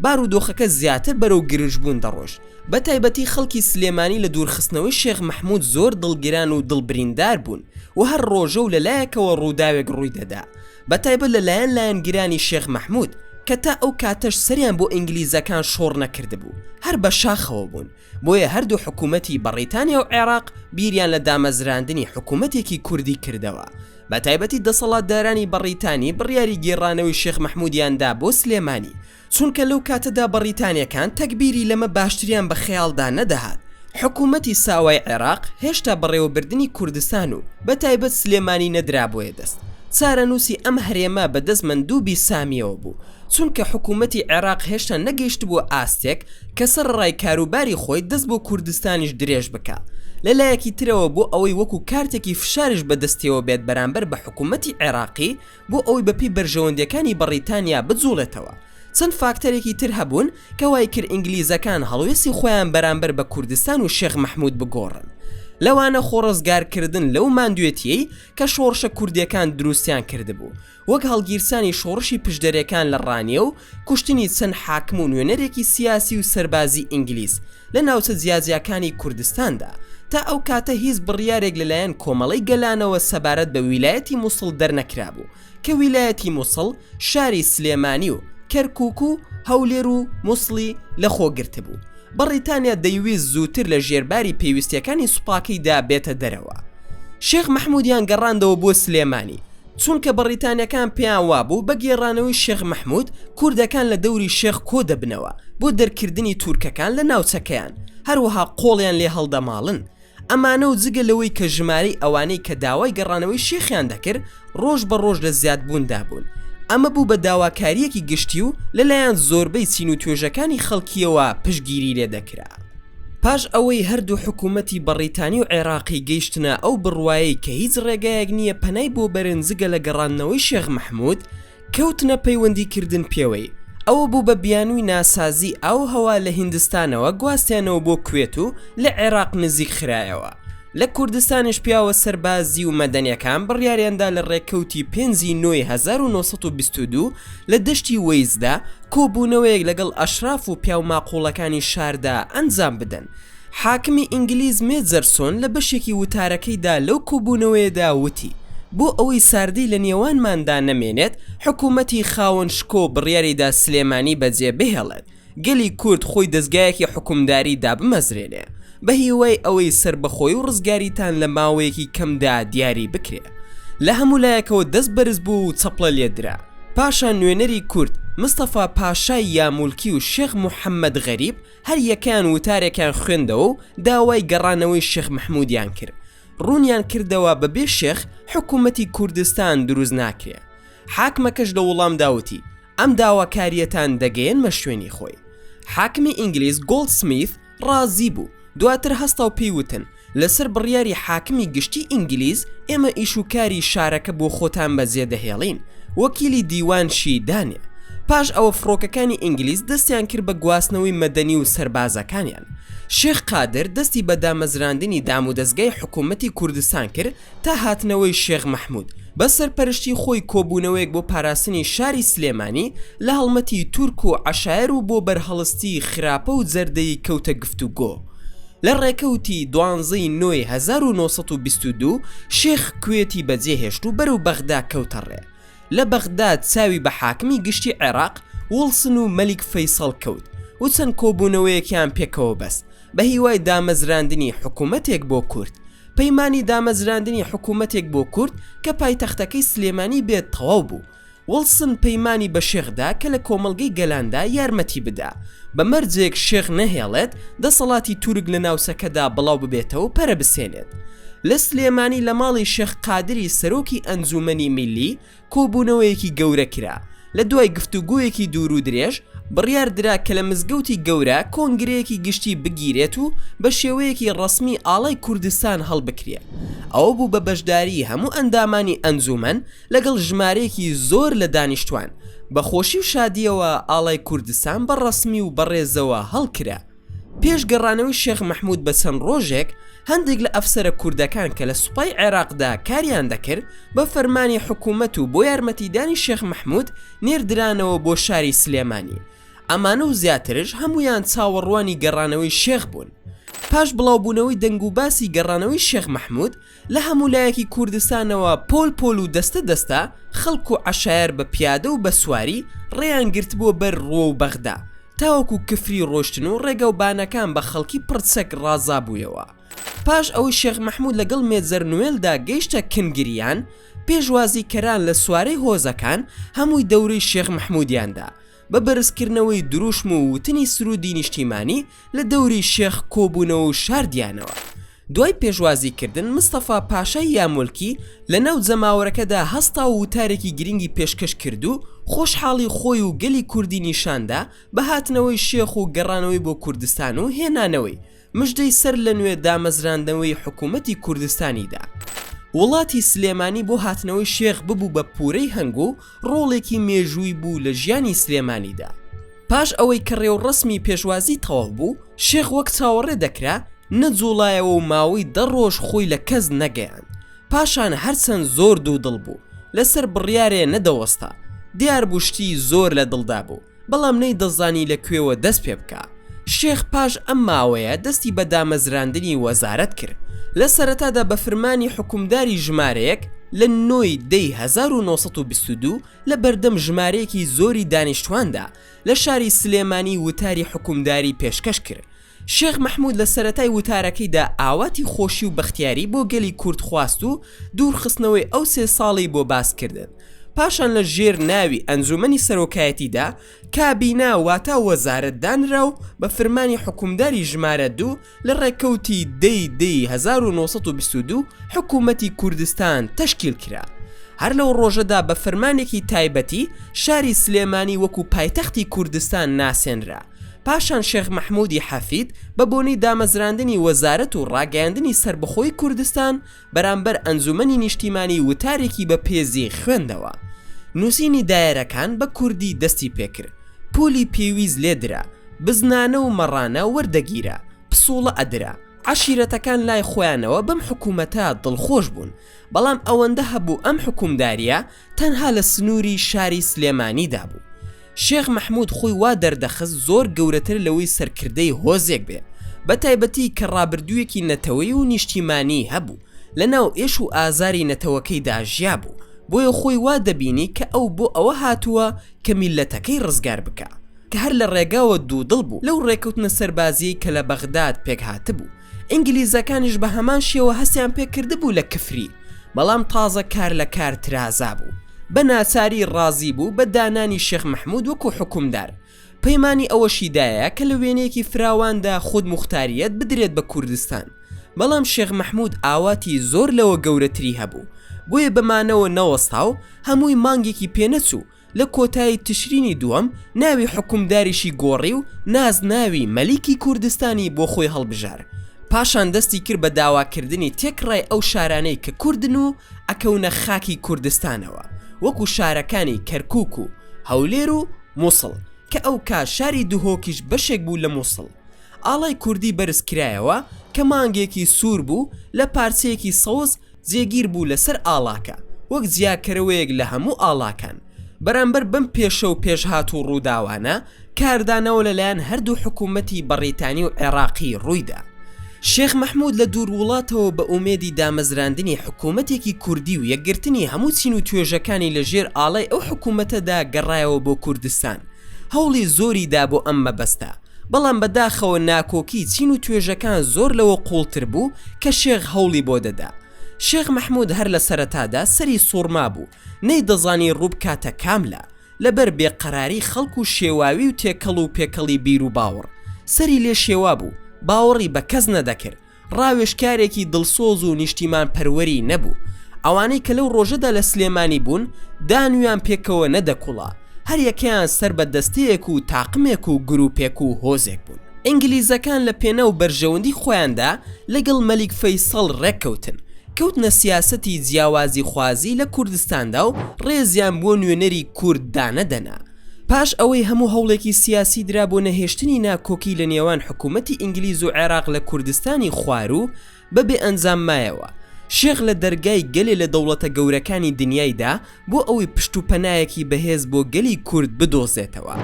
Speaker 1: بارودۆخەکە زیاتر بەرەو گرژبوون دەڕۆشت بە تایبەتی خەڵکی سلێمانی لە دوورخستنەوەی شێخ مەحموود زۆر دڵگران و دڵبریندار بوون و هەر ڕۆژە و لە لایەکەوە ڕووداوێک ڕووی دەدا بە تایبەت لە لایەن لایەنگرانی شێخ مەحمود کە تا ئەو کاتەش سەریان بۆ ئینگلیزەکان شۆڕ نەکردبوو هەر بە شاخەوە بوون بۆیە هەردوو حکوومەتی بەڕیتانیا و عێراق بیریان لە دامەزراندنی حکوومەتێکی کوردی کردەوە بە تایبەتی دەسەڵاتدارانی بەڕیتانی بڕیاری گێڕانەوەی شێخ مەحمودیاندا بۆ سلێمانی چونکە لەو کاتەدا بەڕیتانیەکان تەگبیری لەمە باشتریان بە خەیاڵدا نەدەهات حکومەتی ساوای عێراق هێشتا بەڕێوەبردنی کوردستان و بە تایبەت سلێمانی نەدرابوویە دەست چارەنووسی ئەم هەرێمە بە دەست مەندوبی سامیەوە بوو چونکە حکومەتی عێراق هێشتا نەگەیشتبووە ئاستێک کە سەرەڕای کاروباری خۆی دەست بۆ کوردستانیش درێژ بکا لە لایەکی ترەوە بۆ ئەوەی وەکو کارتێکی فشاریش بەدەستیەوە بێت بەرامبەر بە حکومەتی عێراقی بۆ ئەوەی بەپێی بەرژەوەندییەکانی بەڕیتانیا بجوڵێتەوە. چەند فاکتەرێکی تر هەبوون کە وایکرد ئینگلیزەکان هەڵوێستی خۆیان بەرامبەر بە کوردستان و شێخ مەحمود بگۆڕن. لەوانە خۆڕزگارکردن لەو ماندوێتییەی کە شۆڕشە کوردییەکان دروستیان کردبوو، وەک هەڵگیرسانی شۆڕشی پشدەرێکان لە ڕانیە و کوشتنی چەند حاکم و نوێنەرێکی سیاسی و سەربازی ئینگلیز لە ناوچە جیاجیاکانی کوردستاندا، تا ئەو کاتە هیچ بڕیارێک لەلایەن کۆمەڵەی گەلانەوە سەبارەت بە ویلایەتی موسڵ دەرنەکرابوو، کە ویلایەتی موسڵ شاری سلێمانی و کەرکوک و هەولێر و موسڵی لەخۆگرتبوو، بەڕیتانیا دەیویست زووتر لە ژێرباری پێویستیەکانی سوپاکەیدا بێتە دەرەوە. شێخ مەحمودیان گەڕاندەوە بۆ سلێمانی، چونکە بەڕیتانیەکان پێیان وابوو بە گێڕانەوەی شێخ مەحمود کوردەکان لە دەوری شێخ کۆ دەبنەوە بۆ دەرکردنی تورکەکان لە ناوچەکەیان هەروەها قۆڵیان لێ هەڵدەماڵن ئەمانە و جگە لەوەی کە ژمارەی ئەوانەی کە داوای گەڕانەوەی شێخیان دەکرد ڕۆژ بە ڕۆژ لە زیادبووندا بوون ئەمە بوو بە داواکاریەکی گشتی و لەلایەن زۆربەی چین و توێژەکانی خەڵکیەوە پشگیری لێ دەکرا. پاش ئەوەی هەردوو حکوومەتی بەڕیتانی و عێراقی گەیشتنە ئەو بڕوایەی کە هیچ ڕێگایەک نییە پەنای بۆ بەرن جگە لە گەڕاندنەوەی شێخ مەحموود، کەوتنە پەیوەندی کردن پێوەی، ئەوە بوو بە بیانووی ناسازی ئاو و هەوا لە هیندستانەوە گواستیانەوە بۆ کوێت و لە عێراق نزیک خرایەوە. لە کوردستانیش پیاوە سەربازی و مەدەنیەکان بڕیاریان دا لە ڕێکەوتی پێنج ی نۆ ی هەزار و نۆ سەد و بیست و دوو، لە دەشتی وەیزدا کۆبوونەوەیەک لەگەڵ ئەشراف و پیاو ماقوڵەکانی شاردا ئەنجام بدەن. حاکمی ئینگلیز مێجەرسۆن لە بەشێکی وتارەکەیدا لەو کۆبوونەوەیەدا وتی، بۆ ئەوەی ساردی لە نێوانماندا نەمێنێت، حکوومەتی خاوەن شکۆ بڕیاریدا سلێمانی بەجێبهێڵێت. گەلی کورد خۆی دەزگایەکی حوکمداری دابمەزرێنێ بە هیوای ئەوەی سەربەخۆی و ڕزگاریتان لە ماوەیەکی کەمدا دیاری بکرێ لە هەموو لایەکەوە دەست بەرز بوو و چەپڵە لێ درا پاشان نوێنەری کورد مستەفا پاشای یامولکی و شێخ محەمەد غەریب هەر یەکەیان وتارێکیان خوێندەوە و داوای گەڕانەوەی شێخ مەحمودیان کرد ڕوونیان کردەوە بەبێ شێخ حکوومەتی کوردستان دروست ناکرێ حاکمەکەش لە وڵامدا وتی، ئەم داواکارییەتان دەگەیەنمە شوێنی خۆی. حاکمی ئینگلیز گۆڵدسمیث ڕازی بوو، دواتر هەستا و پێی وتن، لەسەر بڕیاری حاکمی گشتیی ئینگلیز ئێمە ئیش و کاری شارەکە بۆ خۆتان بەجێ دەهێڵین، وەکیلی دیوان شی دانێ. پاش ئەوە فڕۆکەکانی ئینگلیز دەستیان کرد بە گواستنەوەی مەدەنی و سەربازەکانیان. شێخ قادر دەستی بە دامەزراندنی دامودەزگای حکوومەتی کوردستان کرد تا هاتنەوەی شێخ مەحمود بە سەرپەرشتی خۆی کۆبوونەوەیەک بۆ پاراستنی شاری سلێمانی لە هەڵمەتی تورک و عەشایەر و بۆ بەرهەڵستی خراپە و جەردەیی کەوتە گفتوگۆ لە ڕێکەوتی دوانزە ی نۆ ی هەزار و نۆ سەد و بیست و دوو شێخ کوێتی بەجێهێشت و بەرەو بەغدا کەوتە ڕێ لە بەغدا چاوی بە حاکمی گشتی عێراق وڵسن و مەلیک فەیسەڵ کەوت و چەند کۆبوونەوەیەکیان پێکەوە بەست بەهیوای دامەزراندنی حکوومەتێک بۆ کورد. پەیمانی دامەزراندنی حکوومەتێک بۆ کورد کە پایتەختەکەی سلێمانی بێت تەواو بوو. وڵسن پەیمانی بە شێخ دا کە لە کۆمەڵگەی گەلاندا یارمەتی بدا بە مەرجێک شێخ نەهێڵێت دەسەڵاتی تورک لە ناوچەکەدا بڵاو ببێتەوە پەرە بسێنێت لە سلێمانی لە ماڵی شێخ قادری سەرۆکی ئەنجوومەنی میللی کۆبوونەوەیەکی گەورە کرا لە دوای گفتوگۆیەکی دوور و درێژ بڕیار درا کە لە مزگەوتی گەورە کۆنگرەیەکی گشتی بگیرێت و بە شێوەیەکی ڕەسمی ئاڵای کوردستان هەڵبکرێ ئەوە بوو بە بەشداری هەموو ئەندامانی ئەنجومەن لەگەڵ ژمارەیەکی زۆر لە دانیشتوان بە خۆشی و شادییەوە ئاڵای کوردستان بە ڕەسمی و بەڕێزەوە هەڵکرا. پێش گەڕانەوەی شێخ مەحمود بە چەند ڕۆژێک هەندێک لە ئەفسەرە کوردەکان کە لە سوپای عێراقدا کاریان دەکرد بە فەرمانی حکوومەت و بۆ یارمەتیدانی شێخ مەحمود نێردرانەوە بۆ شاری سلێمانی ئەمانە و زیاترش هەمویان چاوەڕوانی گەڕانەوەی شێخ بوون پاش بڵاوبوونەوەی دەنگ و باسی گەڕانەوەی شێخ مەحمود لە هەموو لایەکی کوردستانەوە پۆل پۆل و دەستە دەستە خەڵک و عەشایەر بە پیادە و بە سواری ڕێیان گرتبووە بەر ڕووە و بەغدا تاوەکو کفری ڕۆشتن و ڕێگا و بانەکان بە خەڵکی پڕ چەک ڕازابوویەوە پاش ئەوەی شێخ مەحموود لەگەڵ مێجەر نوێلدا گەیشتە کنگریان پێشوازیکەران لە سوارەی هۆزەکان هەمووی دەورەی شێخ مەحموودیان دا بە بەرزکردنەوەی دروشم و وتنی سروودی نیشتیمانی لە دەوری شێخ کۆبوونەوە و شاردیانەوە. دوای پێشوازیکردن، مستەفا پاشای یامۆلکی لە ناو جەماوەرەکەدا هەستا و وتارێکی گرنگی پێشکەش کرد و خۆشحاڵی خۆی و گەلی کوردی نیشاندا بە هاتنەوەی شێخ و گەڕانەوەی بۆ کوردستان و هێنانەوەی مژدەی سەر لە نوێ دامەزراندنەوەی حکوومەتی کوردستانی دا. وڵاتی سلێمانی بۆ هاتنەوەی شێخ ببوو بە پوورەی هەنگ و ڕۆڵێکی مێژووی بوو لە ژیانی سلێمانی دا. پاش ئەوەی کە ڕێوڕەسمی پێشوازی تەواو بوو، شێخ وەک چاوەڕێ دەکرا، نەجووڵایەوە و ماوەی دە ڕۆژ خۆی لە کەس نەگەیاند. پاشان هەر چەند زۆر دوو دڵ بوو، لە سەر بڕیارێ نەدەوەستا. دیار بوو شتی زۆر لە دڵ دا بوو. بەڵام نەی دەزانی لە کوێوە دەست پێ بکا. شێخ پاش ئەم ماوەیە دەستی بە دامەزراندنی وەزارەت کرد. لە سەرەتادا بە فرمانی حوکمداری ژمارەیەک لە نۆ ی دە ی هەزار و نۆ سەد و بیست و دوو لە بەردەم ژمارەیەکی زۆری دانیشتواندا لە شاری سلێمانی وتاری حوکمداری پێشکەش کرد شێخ مەحمود لە سەرەتای وتارەکەیدا ئاواتی خۆشی و بەختیاری بۆ گەلی کورد خواست و دوورخستنەوەی ئەو سێ ساڵەی بۆ باس کردن پاشان لە ژێر ناوی ئەنجومەنی سەرۆکایەتیدا کابینا واتا وەزارەت دانرا و بە فرمانی حوکمداری ژمارە دوو لە ڕێکەوتی دەی دی هەزار و نۆ سەد و بیست و دوو حکوومەتی کوردستان تەشکیل کرا. هەر لەو ڕۆژەدا بە فرمانێکی تایبەتی شاری سلێمانی وەکوو پایتەختی کوردستان ناسێنرا. پاشان شێخ مەحموودی حەفید بە بۆنەی دامەزراندنی وەزارەت و ڕاگەیاندنی سەربەخۆی کوردستان بەرامبەر ئەنجومەنی نیشتیمانی وتارێکی بە پێزی خوێندەوە نووسینی دایەرەکان بە کوردی دەستی پێکرد پوولی پێویست لێ درا بزنانە و مەڕانە وەردەگیرا پسووڵە ئەدرا عەشیرەتەکان لای خۆیانەوە بەم حکوومەتە دڵخۆش بوون بەڵام ئەوەندە هەبوو ئەم حکوومدارییە تەنها لە سنوری شاری سلێمانیدا بوو شێخ مەحمود خۆی وا دەردەخست زۆر گەورەتر لەوەی سەرکردەی هۆزێک بێ بە تایبەتی کە ڕابردوویەکی نەتەوەی و نیشتیمانی هەبوو لە ناو ئێش و ئازاری نەتەوەکەیدا ژیابوو بۆیە خۆی وا دەبینی کە ئەو بۆ ئەوە هاتووە کە میللەتەکەی ڕزگار بکا کە هەر لە ڕێگاوە دوودڵ بوو لەو ڕێکەوتنە سەربازیەی کە لە بەغداد پێکهاتبوو ئینگلیزەکانیش بە هەمان شێوە هەستیان پێ کردبوو لە کفری بەڵام تازە کار لە کار ترازا بوو بە ناچاری ڕازی بوو بە دانانی شێخ مەحمود وەکو حکومدار پەیمانی ئەوەشی دایە کە لە وێنەیەکی فراواندا خود موختاریەت بدرێت بە کوردستان بەڵام شێخ مەحمود ئاواتی زۆر لەوە گەورەتری هەبوو بۆیە بە مانەوە نەوەستا و هەمووی مانگێکی پێ نەچوو لە کۆتایی تشرینی دووەم ناوی حوکمداریشی گۆڕی و نازناوی مەلیکی کوردستانی بۆ خۆی هەڵبژار پاشان دەستی کرد بە داواکردنی تێکڕای ئەو شارانەی کە کوردن و ئەکەونە خاکی کوردستانەوە وەکو شارەکانی کەرکوک و هەولێر و موسڵ کە ئەو کا شاری دهۆکیش بەشێک بوو لە موسڵ ئاڵای کوردی بەرز کرایەوە کە مانگێکی سوور بوو لە پارچەیەکی سەوز جێگیر بوو لەسەر ئاڵاکە وەک جیاکەرەوەیەک لە هەموو ئاڵاکان. بەرامبەر بەم پێشە و پێشهات و ڕووداوانە، کاردانەوە لەلایەن هەردوو حکوومەتی بەڕیتانی و عێراقی ڕووی دا. شێخ مەحموود لە دوور وڵاتەوە بە ئومێدی دامەزراندنی حکوومەتێکی کوردی و یەکگرتنی هەموو چین و توێژەکانی لە ژێر ئاڵای ئەو حکوومەتەدا گەڕایەوە بۆ کوردستان، هەوڵی زۆری دا بۆ ئەم مەبەستە. بەڵام بە داخەوە ناکۆکی چین و توێژەکان زۆر لەوە قوڵتر بوو کە شێخ هەوڵی بۆ دەدا. شێخ مەحمود هەر لە سەرەتادا سەری سوڕمابوو، نەیدەزانی ڕووبکاتە کام لا، لە بەر بێ قەراری خەڵک و شێواوی و تێکەڵ و پێکەڵی بیر و باوەڕ، سەری لێ شێوابوو، باوەڕی بە کەس نەدەکرد، ڕاوێژکارێکی دڵسۆز و نیشتیمانپەروەری نەبوو، ئەوانەی کە لەو ڕۆژەدا لە سلێمانی بوون دانویان پێکەوە نەدەکوڵا، هەریەکەیان سەر بە دەستەیەک و تاقمێک و گروپێک و هۆزێک بوون. ئینگلیزەکان لە پێناو بەرژەوەندی خۆیاندا لەگەڵ مەلیک فەیسەڵ ڕێککەوتن، کەوتنە سیاسەتی جیاوازیخوازی لە کوردستاندا و ڕێزیان بۆ نوێنەری کورد دانەدەنا، پاش ئەوەی هەموو هەوڵێکی سیاسی درا بۆ نەهێشتنی ناکۆکی لە نێوان حکوومەتی ئینگلیز و عێراق لە کوردستانی خواروو بە بێ ئەنجام مایەوە، شێخ لە دەرگای گەلێ لە دەوڵەتە گەورەکانی دنیای دا بۆ ئەوەی پشت و پەنایەکی بەهێز بۆ گەلی کورد بدۆزێتەوە.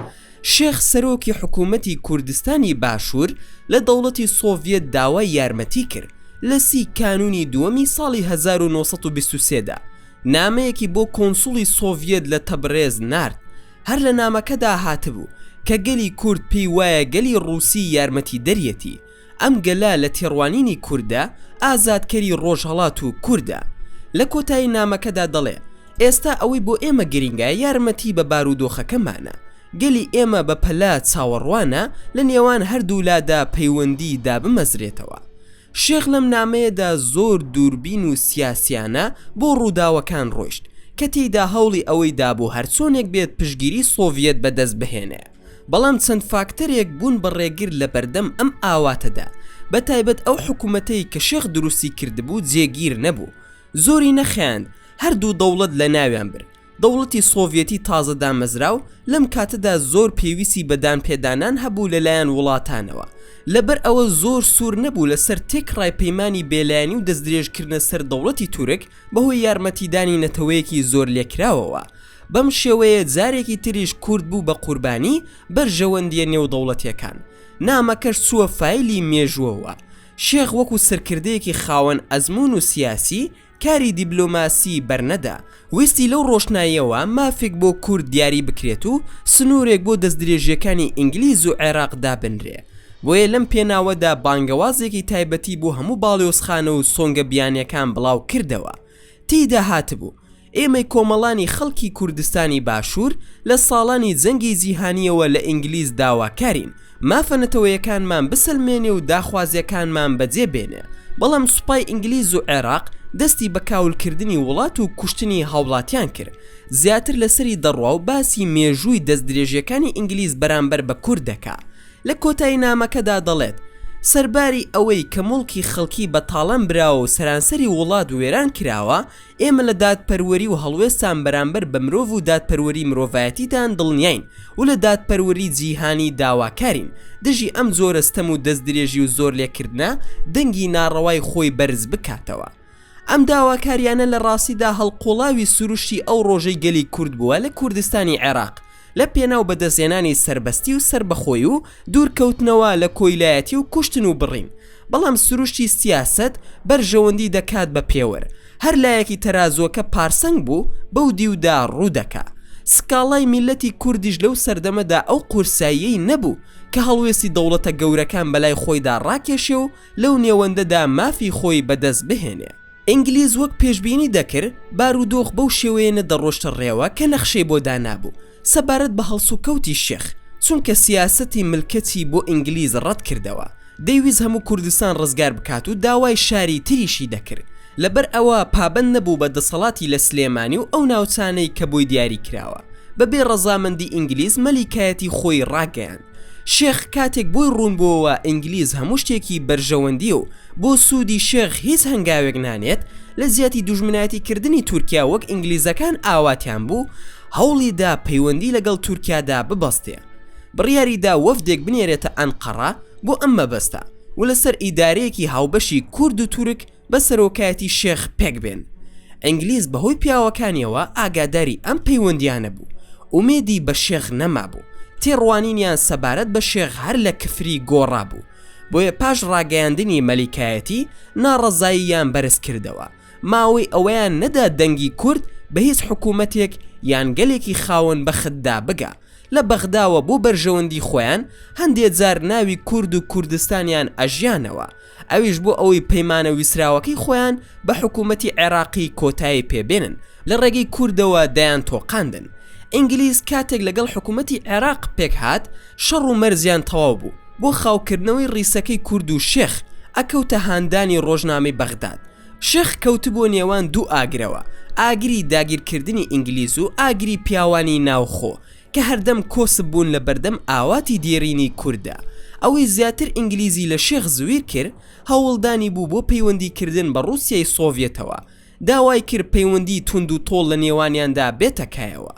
Speaker 1: شێخ سەرۆکی حکوومەتی کوردستانی باشوور لە دەوڵەتی سۆڤیەت داوای یارمەتی کرد لە سی کانوونی دووەمی ساڵی هەزار و نۆ سەد و بیست و سێ دا نامەیەکی بۆ کۆنسوڵی سۆڤیەت لە تەبرێز نارد، هەر لە نامەکەدا هاتبوو کە گەلی کورد پێی وایە گەلی ڕووسی یارمەتیدەریەتی، ئەم گەلە لە تێڕوانینی کوردە ئازادکەری ڕۆژهەڵات و کوردە. لە کۆتایی نامەکەدا دەڵێ، ئێستا ئەوەی بۆ ئێمە گرینگە یارمەتی بە بارودۆخەکەمانە، گەلی ئێمە بە پەلە چاوەڕوانە لە نێوان هەردوولادا پەیوەندی دابمەزرێتەوە، شێخ لەم نامەیەدا زۆر دووربین و سیاسیانە بۆ ڕووداوەکان ڕۆیشت، کە تێیدا هەوڵی ئەوەی دا بۆ هەرچۆنێک بێت پشتگیری سۆڤیەت بەدەست بهێنێ، بەڵام چەند فاکتەرێک بوون بە ڕێگر لە بەردەم ئەم ئاواتەدا، بە تایبەت ئەو حکوومەتەی کە شێخ دروستی کردبوو جێگیر نەبوو، زۆری نەخایاند هەردوو دەوڵەت لەناویان برد. دەوڵەتی سۆڤیەتی تازە دامەزراو لەم کاتەدا زۆر پێویستی بە دانپێدانان هەبوو لەلایەن وڵاتانەوە، لەبەر ئەوە زۆر سوور نەبوو لەسەر تێکڕای پەیمانی بێلایەنی و دەستدرێژکردنە سەر دەوڵەتی تورک بەهۆی یارمەتیدانی نەتەوەیەکی زۆر لێکراوەوە بەم شێوەیە جارێکی تریش کورد بوو بە قوربانی بەرژەوەندیە نێودەوڵەتیەکان نامەکەش چووە فایلی مێژووەوە شێخ وەکو سەرکردەیەکی خاوەن ئەزموون و سیاسی کاری دیبلۆماسی بەرنەدا، ویستی لەو ڕۆشناییەوە مافێک بۆ کورد دیاری بکرێت و سنوورێک بۆ دەستدرێژییەکانی ئینگلیز و عێراق دابنرێ. بۆیە لەم پێناوەدا بانگەوازێکی تایبەتی بۆ هەموو باڵیۆزخانە و سۆنگە بیانییەکان بڵاو کردەوە. تێیدا هاتبوو، ئێمەی کۆمەڵانی خەڵکی کوردستانی باشوور لە ساڵانی جەنگی جیهانییەوە لە ئینگلیز داواکارین، مافە نەتەوەیەکانمان بسەلمێنێ و داخوازیەکانمان بەجێ بێنێ بەڵام سوپای ئینگلیز و عێراق دەستی بە کاولکردنی وڵات و کوشتنی هاوڵاتیان کرد زیاتر لەسەری دەڕوا و باسی مێژووی دەستدرێژیەکانی ئینگلیز بەرامبەر بە کورد دەکا لە کۆتایی نامەکەدا دەڵێت سەرباری ئەوەی کە موڵکی خەڵکی بە تاڵان براوە و سەرانسەری وڵات وێران کراوە ئێمە لە دادپەروەری و هەڵوێستان بەرامبەر بە مرۆڤ و دادپەروەری مرۆڤایەتیدان دڵنیاین و لە دادپەروەری جیهانی داواکارین دژی ئەم جۆرە ستەم و دەستدرێژی و زۆرلێکردنە دەنگی ناڕەوای خۆی بەرز بکاتەوە. ئەم داواکاریانە لە ڕاستیدا هەڵقوڵاوی سروشتی ئەو ڕۆژەی گەلی کورد بووە لە کوردستانی عێراق، لە پێناو بەدەستهێنانی سەربەستی و سەربەخۆی و دوورکەوتنەوە لە کۆیلایەتی و کوشتن و بڕین بەڵام سروشتی سیاسەت بەرژەوەندی دەکات بە پێوەر هەر لایەکی تەرازوەکە پارسەنگ بوو بەو دیودا ڕوودەکا سکاڵای میللەتی کوردیش لەو سەردەمەدا ئەو قورساییەی نەبوو کە هەڵوێستی دەوڵەتە گەورەکان بەلای خۆیدا ڕاکێشێ و لەو نێوەندەدا مافی خۆی بەدەست بهێنێ. ئینگلیز وەک پێشبینی دەکرد بارودۆخ بەو شێوەیە نەدەڕۆشتە ڕێوە کە نەخشەی بۆ دانابوو سەبارەت بە هەڵسوکەوتی شێخ، چونکە سیاسەتی ملکەچی بۆ ئینگلیز ڕەت کردەوە، دەیویست هەموو کوردستان ڕزگار بکات و داوای شاری تریشی دەکرد، لەبەر ئەوە پابەند نەبوو بە دەسەڵاتی لە سلێمانی و ئەو ناوچانەی کە بۆی دیاری کراوە، بەبێ ڕەزامەندی ئینگلیز مەلیکایەتی خۆی ڕاگەیاند. شێخ کاتێک بۆی ڕوون بۆوە ئینگلیز هەموو شتێکی بەرژەوەندیە و بۆ سوودی شێخ هیچ هەنگاوێک نانێت لە جیاتی دوژمنایەتی کردنی تورکیا وەک ئینگلیزەکان ئاواتیان بوو هەوڵی دا پەیوەندی لەگەڵ تورکیادا ببەستێ بڕیاری دا وەفدێک بنێرێتە ئەنقەڕە بۆ ئەم مەبەستە و لەسەر ئیدارەیەکی هاوبەشی کورد و تورک بە سەرۆکایەتی شێخ پێکبێن. ئینگلیز بەهۆی پیاوەکانیەوە ئاگاداری ئەم پەیوەندیانە بوو، ئومێدی بە شێخ نەمابوو، تێڕوانینیان سەبارەت بە شێخ هەر لە کفری گۆڕابوو، بۆیە پاش ڕاگەیاندنی مەلیکایەتی ناڕەزاییان بەرزکردەوە، ماوەی ئەوەیان نەدا دەنگی کورد بە هیچ حکوومەتێک یان گەلێکی خاوەن بەختدا بگا، لە بەغداوە بۆ بەرژەوەندی خۆیان هەندێ جار ناوی کورد و کوردستانیان ئەژیانەوە، ئەویش بۆ ئەوەی پەیمانە ویستراوەکەی خۆیان بە حکوومەتی عێراقی کۆتایی پێ بێنن، لە ڕێگەی کوردەوە دەیانتۆقاندن. ئینگلیز کاتێک لەگەڵ حکوومەتی عێراق پێک هات، شەڕ و مەرزیان تەواو بوو. بۆ خاوکردنەوەی ڕیسەکەی کورد و شێخ، ئەکەوتە هاندانی ڕۆژنامەی بەغداد. شێخ کەوتبووە نێوان دوو ئاگرەوە، ئاگری داگیرکردنی ئینگلیز و ئاگری پیاوانی ناوخۆ. کە هەردەم کۆسپ بوون لە بەردەم ئاواتی دێرینی کورددا، ئەوەی زیاتر ئینگلیزی لە شێخ زویر کرد هەوڵدانی بوو بۆ پەیوەندی کردن بە ڕووسیای سۆڤیەتەوە، داوای کرد پەیوەندی توند و تۆڵ لە نێوانیاندا بێتە کایەوە.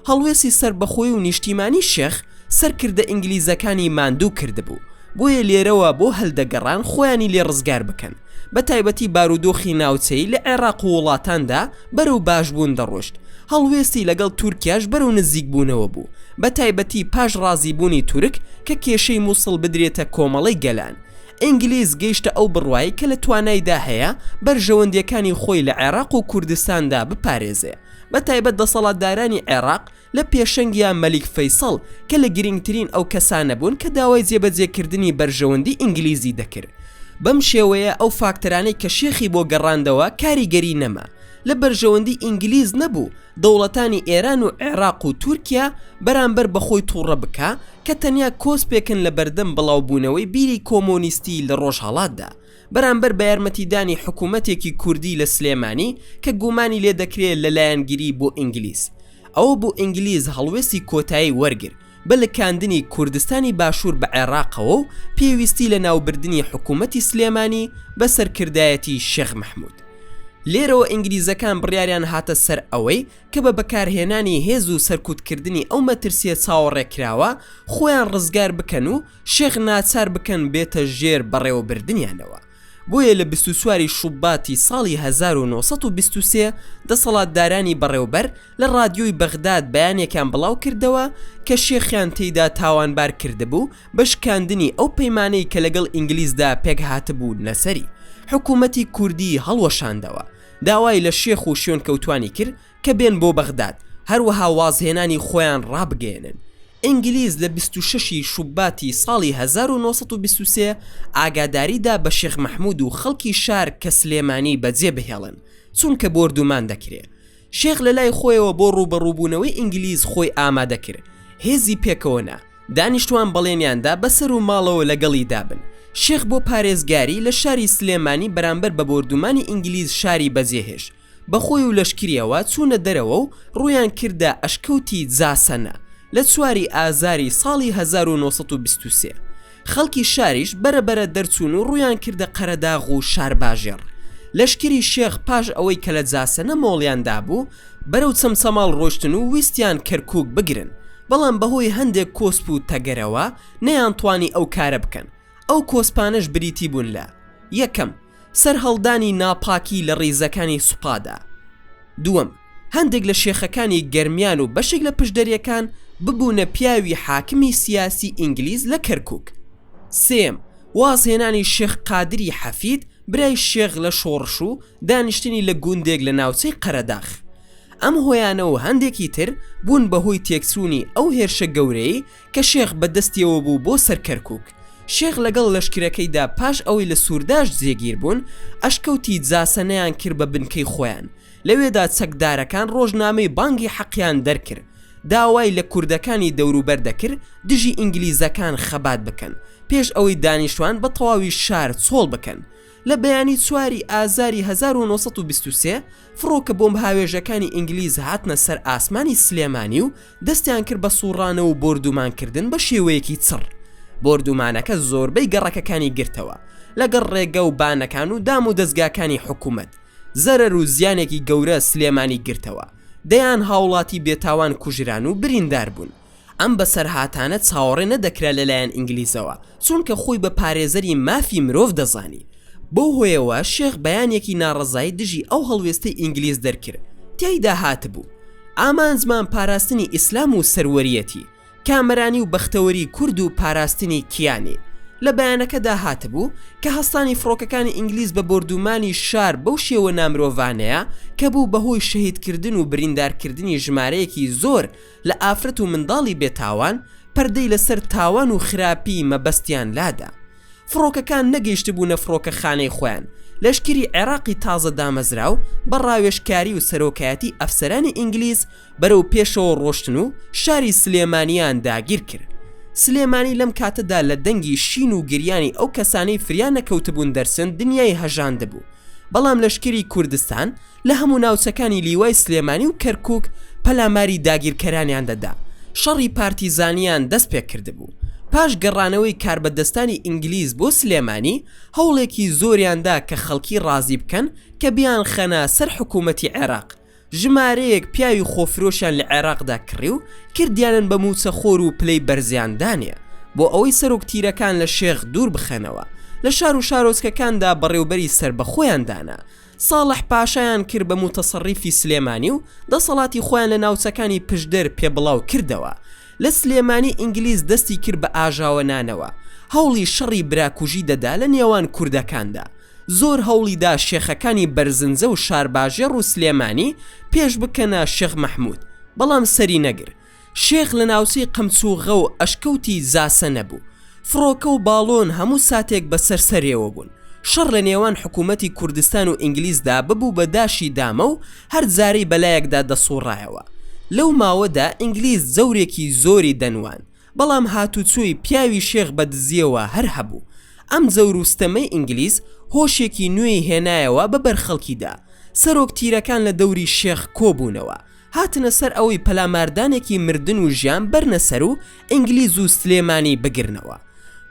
Speaker 1: هەڵوێستی سەربەخۆی و نیشتیمانی شێخ سەرکردە ئینگلیزەکانی ماندوو کردبوو، بۆیە لێرەوە بۆ هەلدەگەڕان خۆیانی لێ ڕزگار بکەن، بە تایبەتی بارودۆخی ناوچەیی لە عێراق و وڵاتاندا، بەرەو باشبوون دەڕۆشت، هەڵوێستی لەگەڵ تورکیاش بەرەو نزیکبوونەوە بوو، بەتایبەتی پاش ڕازیبوونی تورک کە کێشەی موسڵ بدرێتە کۆمەڵەی گەلان. ئینگلیز گەیشتە ئەو بڕوای کە لە توانایدا هەیە بەرژەوەندییەکانی خۆی لە عێراق و کوردستاندا بپارێزێ، بەتایبەت دەسەڵاتدارانی عێراق لە پێشەنگیا مەلیک فەیسەڵ کە لە گرینگترین ئەو کەسانە بوون کە داوای جێبەجێکردنی بەرژەوەندی ئینگلیزی دەکرد. بەم شێوەیە ئەو فاکتەرانەی کە شێخی بۆ گەڕاندەوە کاریگەری نەما لە بەرژەوەندی ئینگلیز نەبوو دەوڵەتانی ئێران و عێراق و تورکیا بەرامبەر بە خۆی توڕە بکا کە تەنیا کۆسپێکن لە بەردەم بڵاوبوونەوەی بیری کۆمۆنیستی لە ڕۆژهەڵاتدا. بەرامبەر بەیارمەتیدانی حکومەتێکی کوردی لە سلێمانی کە گومانی لێدەکرێ لە لایەنگری بۆ ئینگلیز ئەوە بۆ ئینگلیز هەڵوێستی کۆتایی وەرگر بە لکاندنی کوردستانی باشور بە عێراقەوە و پێویستی لە ناوبردنی حکومەتی سلێمانی بە سەرکردایەتی شێخ مەحمود لێرەوە ئینگلیزەکان بڕیاریان هاتە سەر ئەوەی کە بە بەکارهێنانی هێز و سەرکوتکردنی ئەو مەترسیە چاوەڕێکراوە خۆیان ڕزگار بکەن و شێخ ناچار بکەن بێتە ژێر بەڕێوەبردنیانەوە. بۆیە لە بیست و چواری شوباتی ساڵی هەزار و نۆ سەد و بیست و سێ دەسەڵاتدارانی بەڕێوبەر لە ڕادیۆی بەغداد بەیانێکیان بڵاو کردەوە کە شێخیان تێیدا تاوانبار کردبوو بە شکاندنی ئەو پەیمانەی کە لەگەڵ ئینگلیزدا پێکهاتبوونە سەری. حکوومەتی کوردی هەڵوەشاندەوە. داوای لە شێخ و شوێنکەوتوانی کرد کە بێن بۆ بەغداد هەروەها وازهێنانی خۆیان ڕابگەیەنن. ئینگلیز لە بیست و شەش ی شوباتی ساڵی هەزار و نۆ سەد و بیست و سێ ئاگاداری دا بە شێخ مەحمود و خەڵکی شار کە سلێمانی بەجێ بهێڵن چونکە بۆردومان دەکرێ. شێخ لە لای خۆیەوە بۆ ڕووبەڕووبوونەوەی ئینگلیز خۆی ئامادە کرد. هێزی پێکەوە نا. دانیشتوان بەڵێنیان دا بە سەر و ماڵەوە لە گەڵی دا بن. شێخ بۆ پارێزگاری لە شاری سلێمانی بەرامبەر بە بۆردومانی ئینگلیز شاری بەجێ هێشت. بە خۆی و لەشکریەوە چوونە دەرەوە و ڕوویان کردە ئەشکەوتی جاسەنە لە چواری ئازاری ساڵی 1923 خەڵکی شاریش بەرە بەرە دەرچوون و ڕوویان کردە قەرەداغ و شارباژێڕ لەشکری شێخ پاش ئەوەی کە لە جاسەنە مۆڵیان دابوو بەرەو چەمچەماڵ ڕۆشتن و ویستیان کەرکوک بگرن بەڵام بەهۆی هەندێک کۆسپ و تەگەرەوە نەیانتوانی ئەو کارە بکەن ئەو کۆسپانەش بریتی بوون لە یەکەم سەرهەڵدانی ناپاکی لە ڕیزەکانی سوپادا. دووەم، هەندێک لە شێخەکانی گەرمیان و بەشێک لە پشدەرەکان ببوونە پیاوی حاکمی سیاسی ئینگلیز لە کەرکوک. سێیەم، وازهێنانی شێخ قادری حەفید برای شێخ لە شۆڕش و دانیشتنی لە گوندێک لە ناوچەی قەرەداخ. ئەم هۆیانە و هەندێکی تر بوون بە هۆی تێکچوونی ئەو هێرشە گەورەیەی کە شێخ بە دەستیەوە بوو بۆ سەر کەرکوک شێخ لەگەڵ لەشکرەکەیدا پاش ئەوەی لە سورداشت جێگیر بوون ئەشکەوتی جاسە نەیان کرد بە بنکەی خۆیان لەوێدا چەکدارەکان ڕۆژنامەی بانگی حەقیان دەرکرد داوای لە کوردەکانی دەوروبەر دەکرد دژی ئینگلیزەکان خەبات بکەن پێش ئەوەی دانیشتوان بە تەواوی شار چۆڵ بکەن لە بەیانی چواری ئازاری هەزار و نۆ سەد و بیست و سێ فڕۆکە بۆمبهاوێژەکانی ئینگلیز هاتنە سەر ئاسمانی سلێمانی و دەستیان کرد بە سوڕانە و بۆردومانکردن بە شێوەیەکی چڕ بۆردومانەکە زۆربەی گەڕەکەکانی گرتەوە لەگەڵ ڕێگە و بانەکان و دام و دەزگاکانی حکومەت زەرەر و زیانێکی گەورە سلێمانی گرتەوە دەیان هاوڵاتی بێتاوان کوژران و بریندار بوون. ئەم بەسەرهاتانە چاوەڕێ نەدەکرا لەلایەن ئینگلیزەوە، چونکە خۆی بە پارێزەری مافی مرۆڤ دەزانی. بەو هۆیەوە شێخ بەیانێکی ناڕەزایی دژی ئەو هەڵوێستەی ئینگلیز دەرکرد، تیایدا هاتبوو، ئامانجمان پاراستنی ئیسلام و سەروەریەتی کامەرانی و بەختەوەری کورد و پاراستنی کیانی. لە بەیانەکەدا هاتبوو، کە هەستانی فڕۆکەکانی ئینگلیز بە بۆردومانی شار بەو شێوە نامرۆڤانەیە، کە بوو بەهۆی شەهیدکردن و بریندارکردنی ژمارەیەکی زۆر لە ئافرەت و منداڵی بێ تاوان پەردەی لە سەر تاوان و خراپی مەبەستیان لادا فڕۆکەکان نەگەیشتبوونە فڕۆکەخانەی خۆیان لەشکری عێراقی تازە دامەزراو بە ڕاوێژکاری و سەرۆکایەتی ئەفسەرانی ئینگلیز بەرەو پێشەوە ڕۆشتن و شاری سلێمانیان داگیر کرد سلێمانی لەم کاتەدا لە دەنگی شین و گریانی ئەو کەسانەی فریا نەکەوتبوون دەرچن دنیای هەژاندبوو بەڵام لەشکری کوردستان لە هەموو ناوچەکانی لیوای سلێمانی و کەرکوک پەلاماری داگیرکەرانیان دەدا، شەڕی پارتیزانیان دەست پێکردبوو، پاش گەڕانەوەی کاربەدەستانی ئینگلیز بۆ سلێمانی هەوڵێکی زۆریان دا کە خەڵکی ڕازی بکەن کە بیانخەنە سەر حکوومەتی عێراق، ژمارەیەک پیاوی خۆفرۆشیان لە عێراقدا کڕی و کردیانن بە مووچەخۆر و پلەی بەرزیان دانێ بۆ ئەوەی سەرۆک تیرەکان لە شێخ دوور بخەنەوە، لە شار و شارۆچکەکاندا بەڕێوبەری سەربەخۆیان دانا. ساڵح پاشایان کرد بە موتەسەڕیفی سلێمانی و دەسەڵاتی خۆیان لە ناوچەکانی پشدەر پێ بڵاو کردەوە لە سلێمانی ئینگلیز دەستی کرد بە ئاژاوە نانەوە هەوڵی شەڕی براکوژی دەدا لە نێوان کوردەکاندا زۆر هەوڵی دا شێخەکانی بەرزنجە و شارباژێڕ و سلێمانی پێش بکەنە شێخ مەحمود بەڵام سەری نەگر شێخ لە ناوچەی قەمچووغە و ئەشکەوتی زاسە نەبوو. فڕۆکە و باڵۆن هەموو ساتێک بەسەر سەرێوە بوون. شەڕ لە نێوان حکوومەتی کوردستان و ئینگلیزدا ببوو بە داشی دامە و هەر جارەی بە لایەکدا دەسووڕایەوە. لەو ماوەدا ئینگلیز جەورێکی زۆری دەنواند. بەڵام هاتوچۆی پیاوی شێخ بە دزییەوە هەر هەبوو. ئەم جەور و ستەمەی ئینگلیز هۆشێکی نوێی هێنایەوە بە بەر خەڵکیدا. سەرۆک تیرەکان لە دەوری شێخ کۆ بوونەوە. هاتنە سەر ئەوەی پەلاماردانێکی مردن و ژیان بەرنە سەر و ئینگلیز و سلێمانی بگرنەوە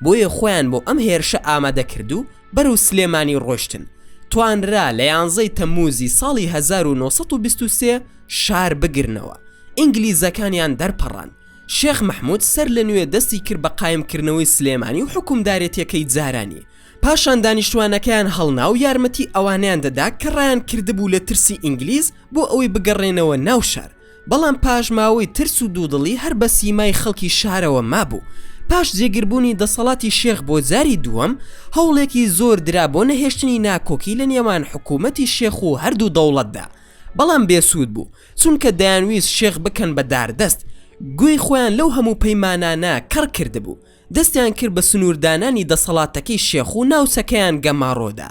Speaker 1: بۆیە خۆیان بۆ ئەم هێرشە ئامادە کرد و بەرەو سلێمانی ڕۆشتن توانرا لە یانزەی تەموزی ساڵی 1923 شار بگرنەوە ئینگلیزەکانیان دەرپەڕان شێخ مەحمود سەر لە نوێ دەستی کرد بە قایمکردنەوەی سلێمانی و حوکمدارێتیەکەی جارانی پاشان دانیشتوانەکەیان هەڵنا و یارمەتی ئەوانەیان دەدا کە ڕایان کردبوو لە ترسی ئینگلیز بۆ ئەوەی بگەڕێنەوە ناو شار بەڵام پاش ماوەی ترس و دوودڵی هەر بە سیمای خەڵکی شارەوە مابوو پاش جێگربوونی دەسەڵاتی شێخ بۆ جاری دووەم هەوڵێکی زۆر درا بۆ نەهێشتنی ناکۆکی لە نێوان حکوومەتی شێخ و هەردوو دەوڵەتدا بەڵام بێسوود بوو چونکە دەیانویست شێخ بکەن بە داردەست گوێی خۆیان لەو هەموو پەیمانانە کەڕ کردبوو دەستیان کرد بە سنووردانانی دەسەڵاتەکەی شێخ و ناوچەکەیان گەماڕۆدا،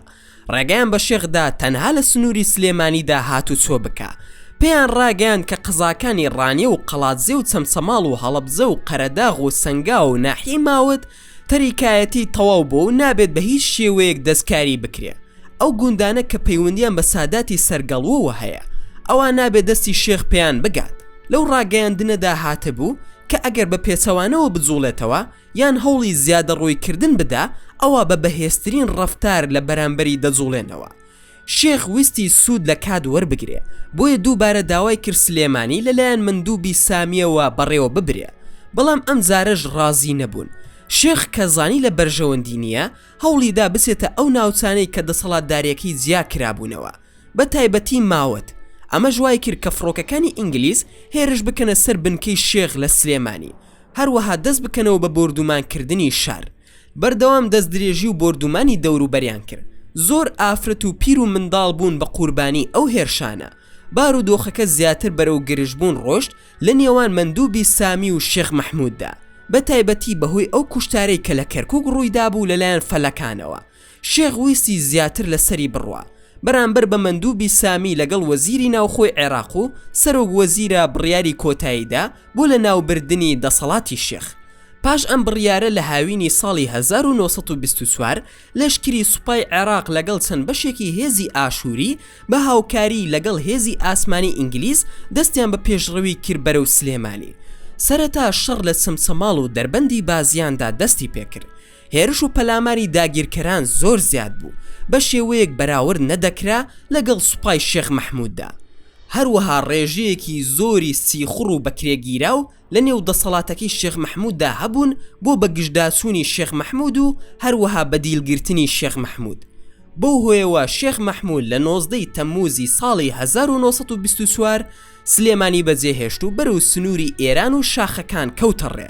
Speaker 1: ڕێگەیان بە شێخ دا تەنها لە سنووری سلێمانیدا هاتوچۆ بکا، پێیان ڕاگەیاند کە قەزاکانی ڕانیە و قەڵادزێ و چەمچەماڵ و هەڵەبجە و قەرەداغ و سەنگاو و ناحیەی ماوەت تەریکایەتیی تەواو بووە و نابێت بە هیچ شێوەیەک دەستکاری بکرێ. ئەو گوندانە کە پەیوەندیان بە ساداتی سەرگەڵووەوە هەیە ئەوا نابێ دەستی شێخ پێیان بگات، لەو ڕاگەیاندنەدا هاتبوو کە ئەگەر بە پێچەوانەوە بجووڵێتەوە یان هەوڵی زیادەڕۆیکردن بدا ئەوا بە بەهێزترین ڕەفتار لە بەرامبەری دەجووڵێنەوە شێخ ویستی سوود لە کات وەربگرێ بۆیە دووبارە داوای کرد سلێمانی لەلایەن مندووبی سامییەوە بەڕێوە ببرێ بەڵام ئەمجارەش ڕازی نەبوون شێخ کە زانی لە بەرژەوەندی نییە هەوڵی دا بچێتە ئەو ناوچانەی کە دەسەڵاتدارێکی جیا کرابوونەوە، بە تایبەتی ماوەت، ئەمەش وای کرد کە فڕۆکەکانی ئینگلیز هێرش بکەنە سەر بنکەی شێخ لە سلێمانی، هەروەها دەست بکەنەوە بە بۆردوومانکردنی شار. بەردەوام دەستدرێژی و بۆردوومانی دەوروبەریان کرد، زۆر ئافرەت و پیر و منداڵ بوون بە قوربانیی ئەو هێرشانە، بارودۆخەکە زیاتر بەرەو گرژبوون ڕۆشت، لە نێوان مەندوبی سامی و شێخ مەحموددا، بە تایبەتی بەهۆی ئەو کوشتارەی کە لە کەرکوک ڕوویدابوو لەلایەن فەلەکانەوە، شێخ ویستی زیاتر لە سەری بڕوا بەرامبەر بە مەندوبی سامی لەگەڵ وەزیری ناوخۆی عێراق و سەرۆک وەزیرە بڕیاری کۆتاییدا بۆ لەناوبردنی دەسەڵاتی شێخ پاش ئەم بڕیارە لە هاوینی ساڵی هەزار و نۆ سەد و بیست و چوار لەشکری سوپای عێراق لەگەڵ چەند بەشێکی هێزی ئاشووری بە هاوکاریی لەگەڵ هێزی ئاسمانی ئینگلیز دەستیان بە پێشڕەوی کرد بەرەو سلێمانی. سەرەتا شەڕ لە چەمچەماڵ و دەربەندی بازیاندا دەستی پێکرد. هێرش و پەلاماری داگیرکەران زۆر زیاد بوو، بە شێوەیەک بەراورد نەدەکرا لەگەڵ سوپای شێخ مەحمووددا. هەروەها ڕێژەیەکی زۆری سیخوڕ و بەکرێگیراو لە نێو دەسەڵاتەکەی شێخ مەحمووددا هەبوون بۆ بەگژداچوونی شێخ مەحموود و هەروەها بەدیلگرتنی شێخ مەحموود. بەو هۆیەوە شێخ مەحموود لە نۆزدە ی تەممووزی ساڵی هەزار و نۆ سەد و بیست و چوار سلێمانی بەجێهێشت و بەرەو سنووری ئێران و شاخەکان کەوتە ڕێ.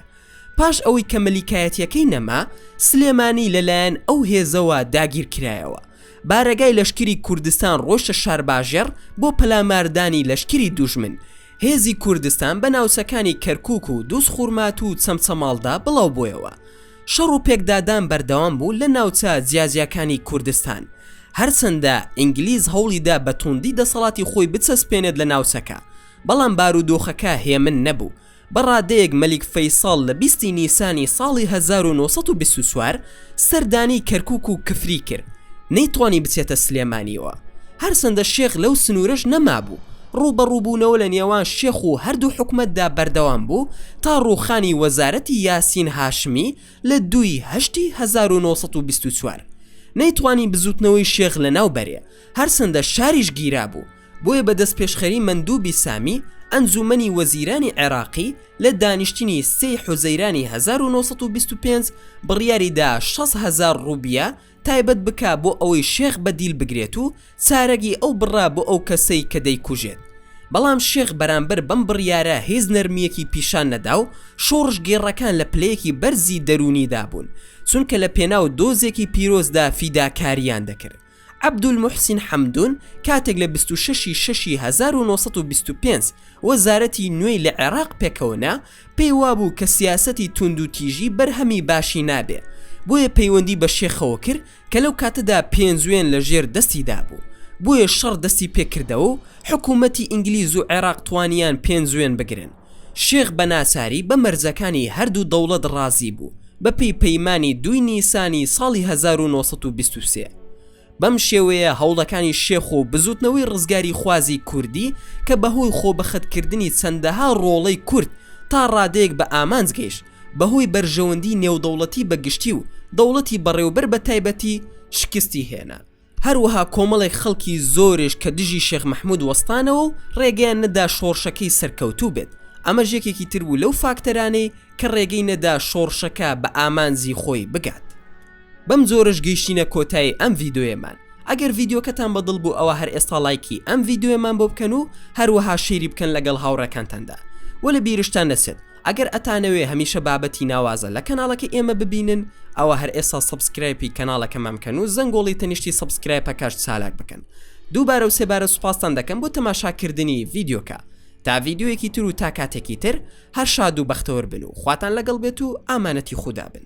Speaker 1: پاش ئەوەی کە مەلیکایەتییەکەی نەما، سلێمانی لە لایەن ئەو هێزەوە داگیر کرایەوە. بارەگای لەشکری کوردستان ڕۆیشتە شارباژێڕ بۆ پەلاماردانی لەشکری دوژمن. هێزی کوردستان بە ناوچەکانی کەرکووک و دووزخورماتوو و چەمچەماڵدا بڵاو بۆیەوە. شەڕ و پێکدادان بەردەوام بوو لە ناوچە جیاجیاکانی کوردستان. هەرچەندە ئینگلیز هەوڵی دا بە توندی دەسەڵاتی خۆی بچەسپێنێت لە ناوچەکە، بەڵام بارودۆخەکە هێمن نەبوو. بە ڕادەیەک مەلیک فەیسەڵ لە بیست ی نیسانی ساڵی هەزار و نۆ سەد و بیست و چوار، سەردانی کەرکوک و کفری کرد نەیتوانی بچێتە سلێمانیەوە هەرچەندە شێخ لەو سنورەش نەمابوو ڕووبەڕووبونەوە لە نێوان شێخ و هەردوو حکومەتدا بەردەوام بوو تا ڕووخانی وەزارەتی یاسین هاشمی لە دوو ی هەشتی هەزار و نۆ سەد و بیست و چوار نەیتوانی بزوتنەوەی شێخ لەناو بەرێ هەرچەندە شاریش گیرابوو بۆیە بە دەستپێشخەری مەندوبی سامی ئەنجومەنی وەزیرانی عێراقی لە دانیشتنی سێ ی حوزەیرانی هەزار و نۆ سەد و بیست و پێنج بڕیاری دا شەست هەزار ڕوبیە تایبەت بکا بۆ ئەوەی شێخ بەدیل بگرێت و چارەگی ئەو بڕا بۆ ئەو کەسەی کە دەیکوژێت بەڵام شێخ بەرامبەر بەم بڕیارە هیچ نەرمیەکی پیشان نەدا و شۆڕشگێڕەکان لە پلەیەکی بەرزی دەرونیدا بوون چونکە لە پێناو دۆزێکی پیرۆزدا فیداکاریان دەکرد. عەبدولموحسین حەمدون کاتێک لە بیست و شەش ی شەش ی هەزار و نۆ سەد و بیست و پێنج وەزارەتی نوێی لە عێراق پێکەوەنا پێی وابوو کە سیاسەتی توندوتیژی بەرهەمی باشی نابێ بۆیە پەیوەندی بە شێخەوە کرد کە لەو کاتەدا پێنجوێن لە ژێر دەستی دابوو بۆیە شەڕ دەستی پێکردەوەو حکومەتی ئینگلیزو عێراق توانیان پێنجوێن بگرن. شێخ بە ناچاری بە مەرجەکانی هەردوو دەوڵەت ڕازی بوو بە پێی پەیمانی دووی نیسانی ساڵی هەزار و نۆ سەد و بیست و سێ. بەم شێوەیە هەوڵەکانی شێخ و بزووتنەوەی ڕزگاریخوازی کوردی کە بە هۆی خۆبەخت کردنی چەندەها ڕۆڵەی کورد تا ڕادەیەک بە ئامانج گەیشت بە هۆی بەرژەوەندی نێودەوڵەتی بە گشتی و دەوڵەتی بەڕێوبەر بە تایبەتی شکستی هێنا. هەروەها کۆمەڵێک خەڵکی زۆریش کە دژی شێخ مەحمود وەستانەوە و ڕێگەیان نەدا شۆڕشەکەی سەرکەوتوو بێت، ئەمەش یەکێکی تر بوو لەو فاکتەرانەی کە ڕێگەی نەدا شۆڕشەکە بە ئامانجی خۆی بگات. بەم جۆرەش گەیشتینە کۆتایی ئەم ڤیدۆیەمان، ئەگەر ڤیدیۆکەتان بە دڵ بوو ئەوا هەر ئێستا ڵایکی ئەم ڤیدۆیەمان بۆ بکەن و هەروەها شەیری بکەن لەگەڵ هاوڕێکانتاندا و لە بیرشتان نەچێت ئەگەر ئەتانەوێ هەمیشە بابەتی ناوازە لە کەناڵەکەی ئێمە ببینن ئەوا هەر ئێستا سەبسکرایپی کەناڵەکەمان بکەن و زەنگۆڵی تەنیشتی سەبسکرایپەکەش چالاک بکەن دووبارە و سێبارە سوپاستان دەکەم بۆ تەماشاکردنی ڤیدیۆکە تا ڤیدیۆیەکی تر و تا کاتێکی تر هەر شاد و بەختەوەر بن و خواتان لەگەڵ بێت و ئامانەتی خودا بن.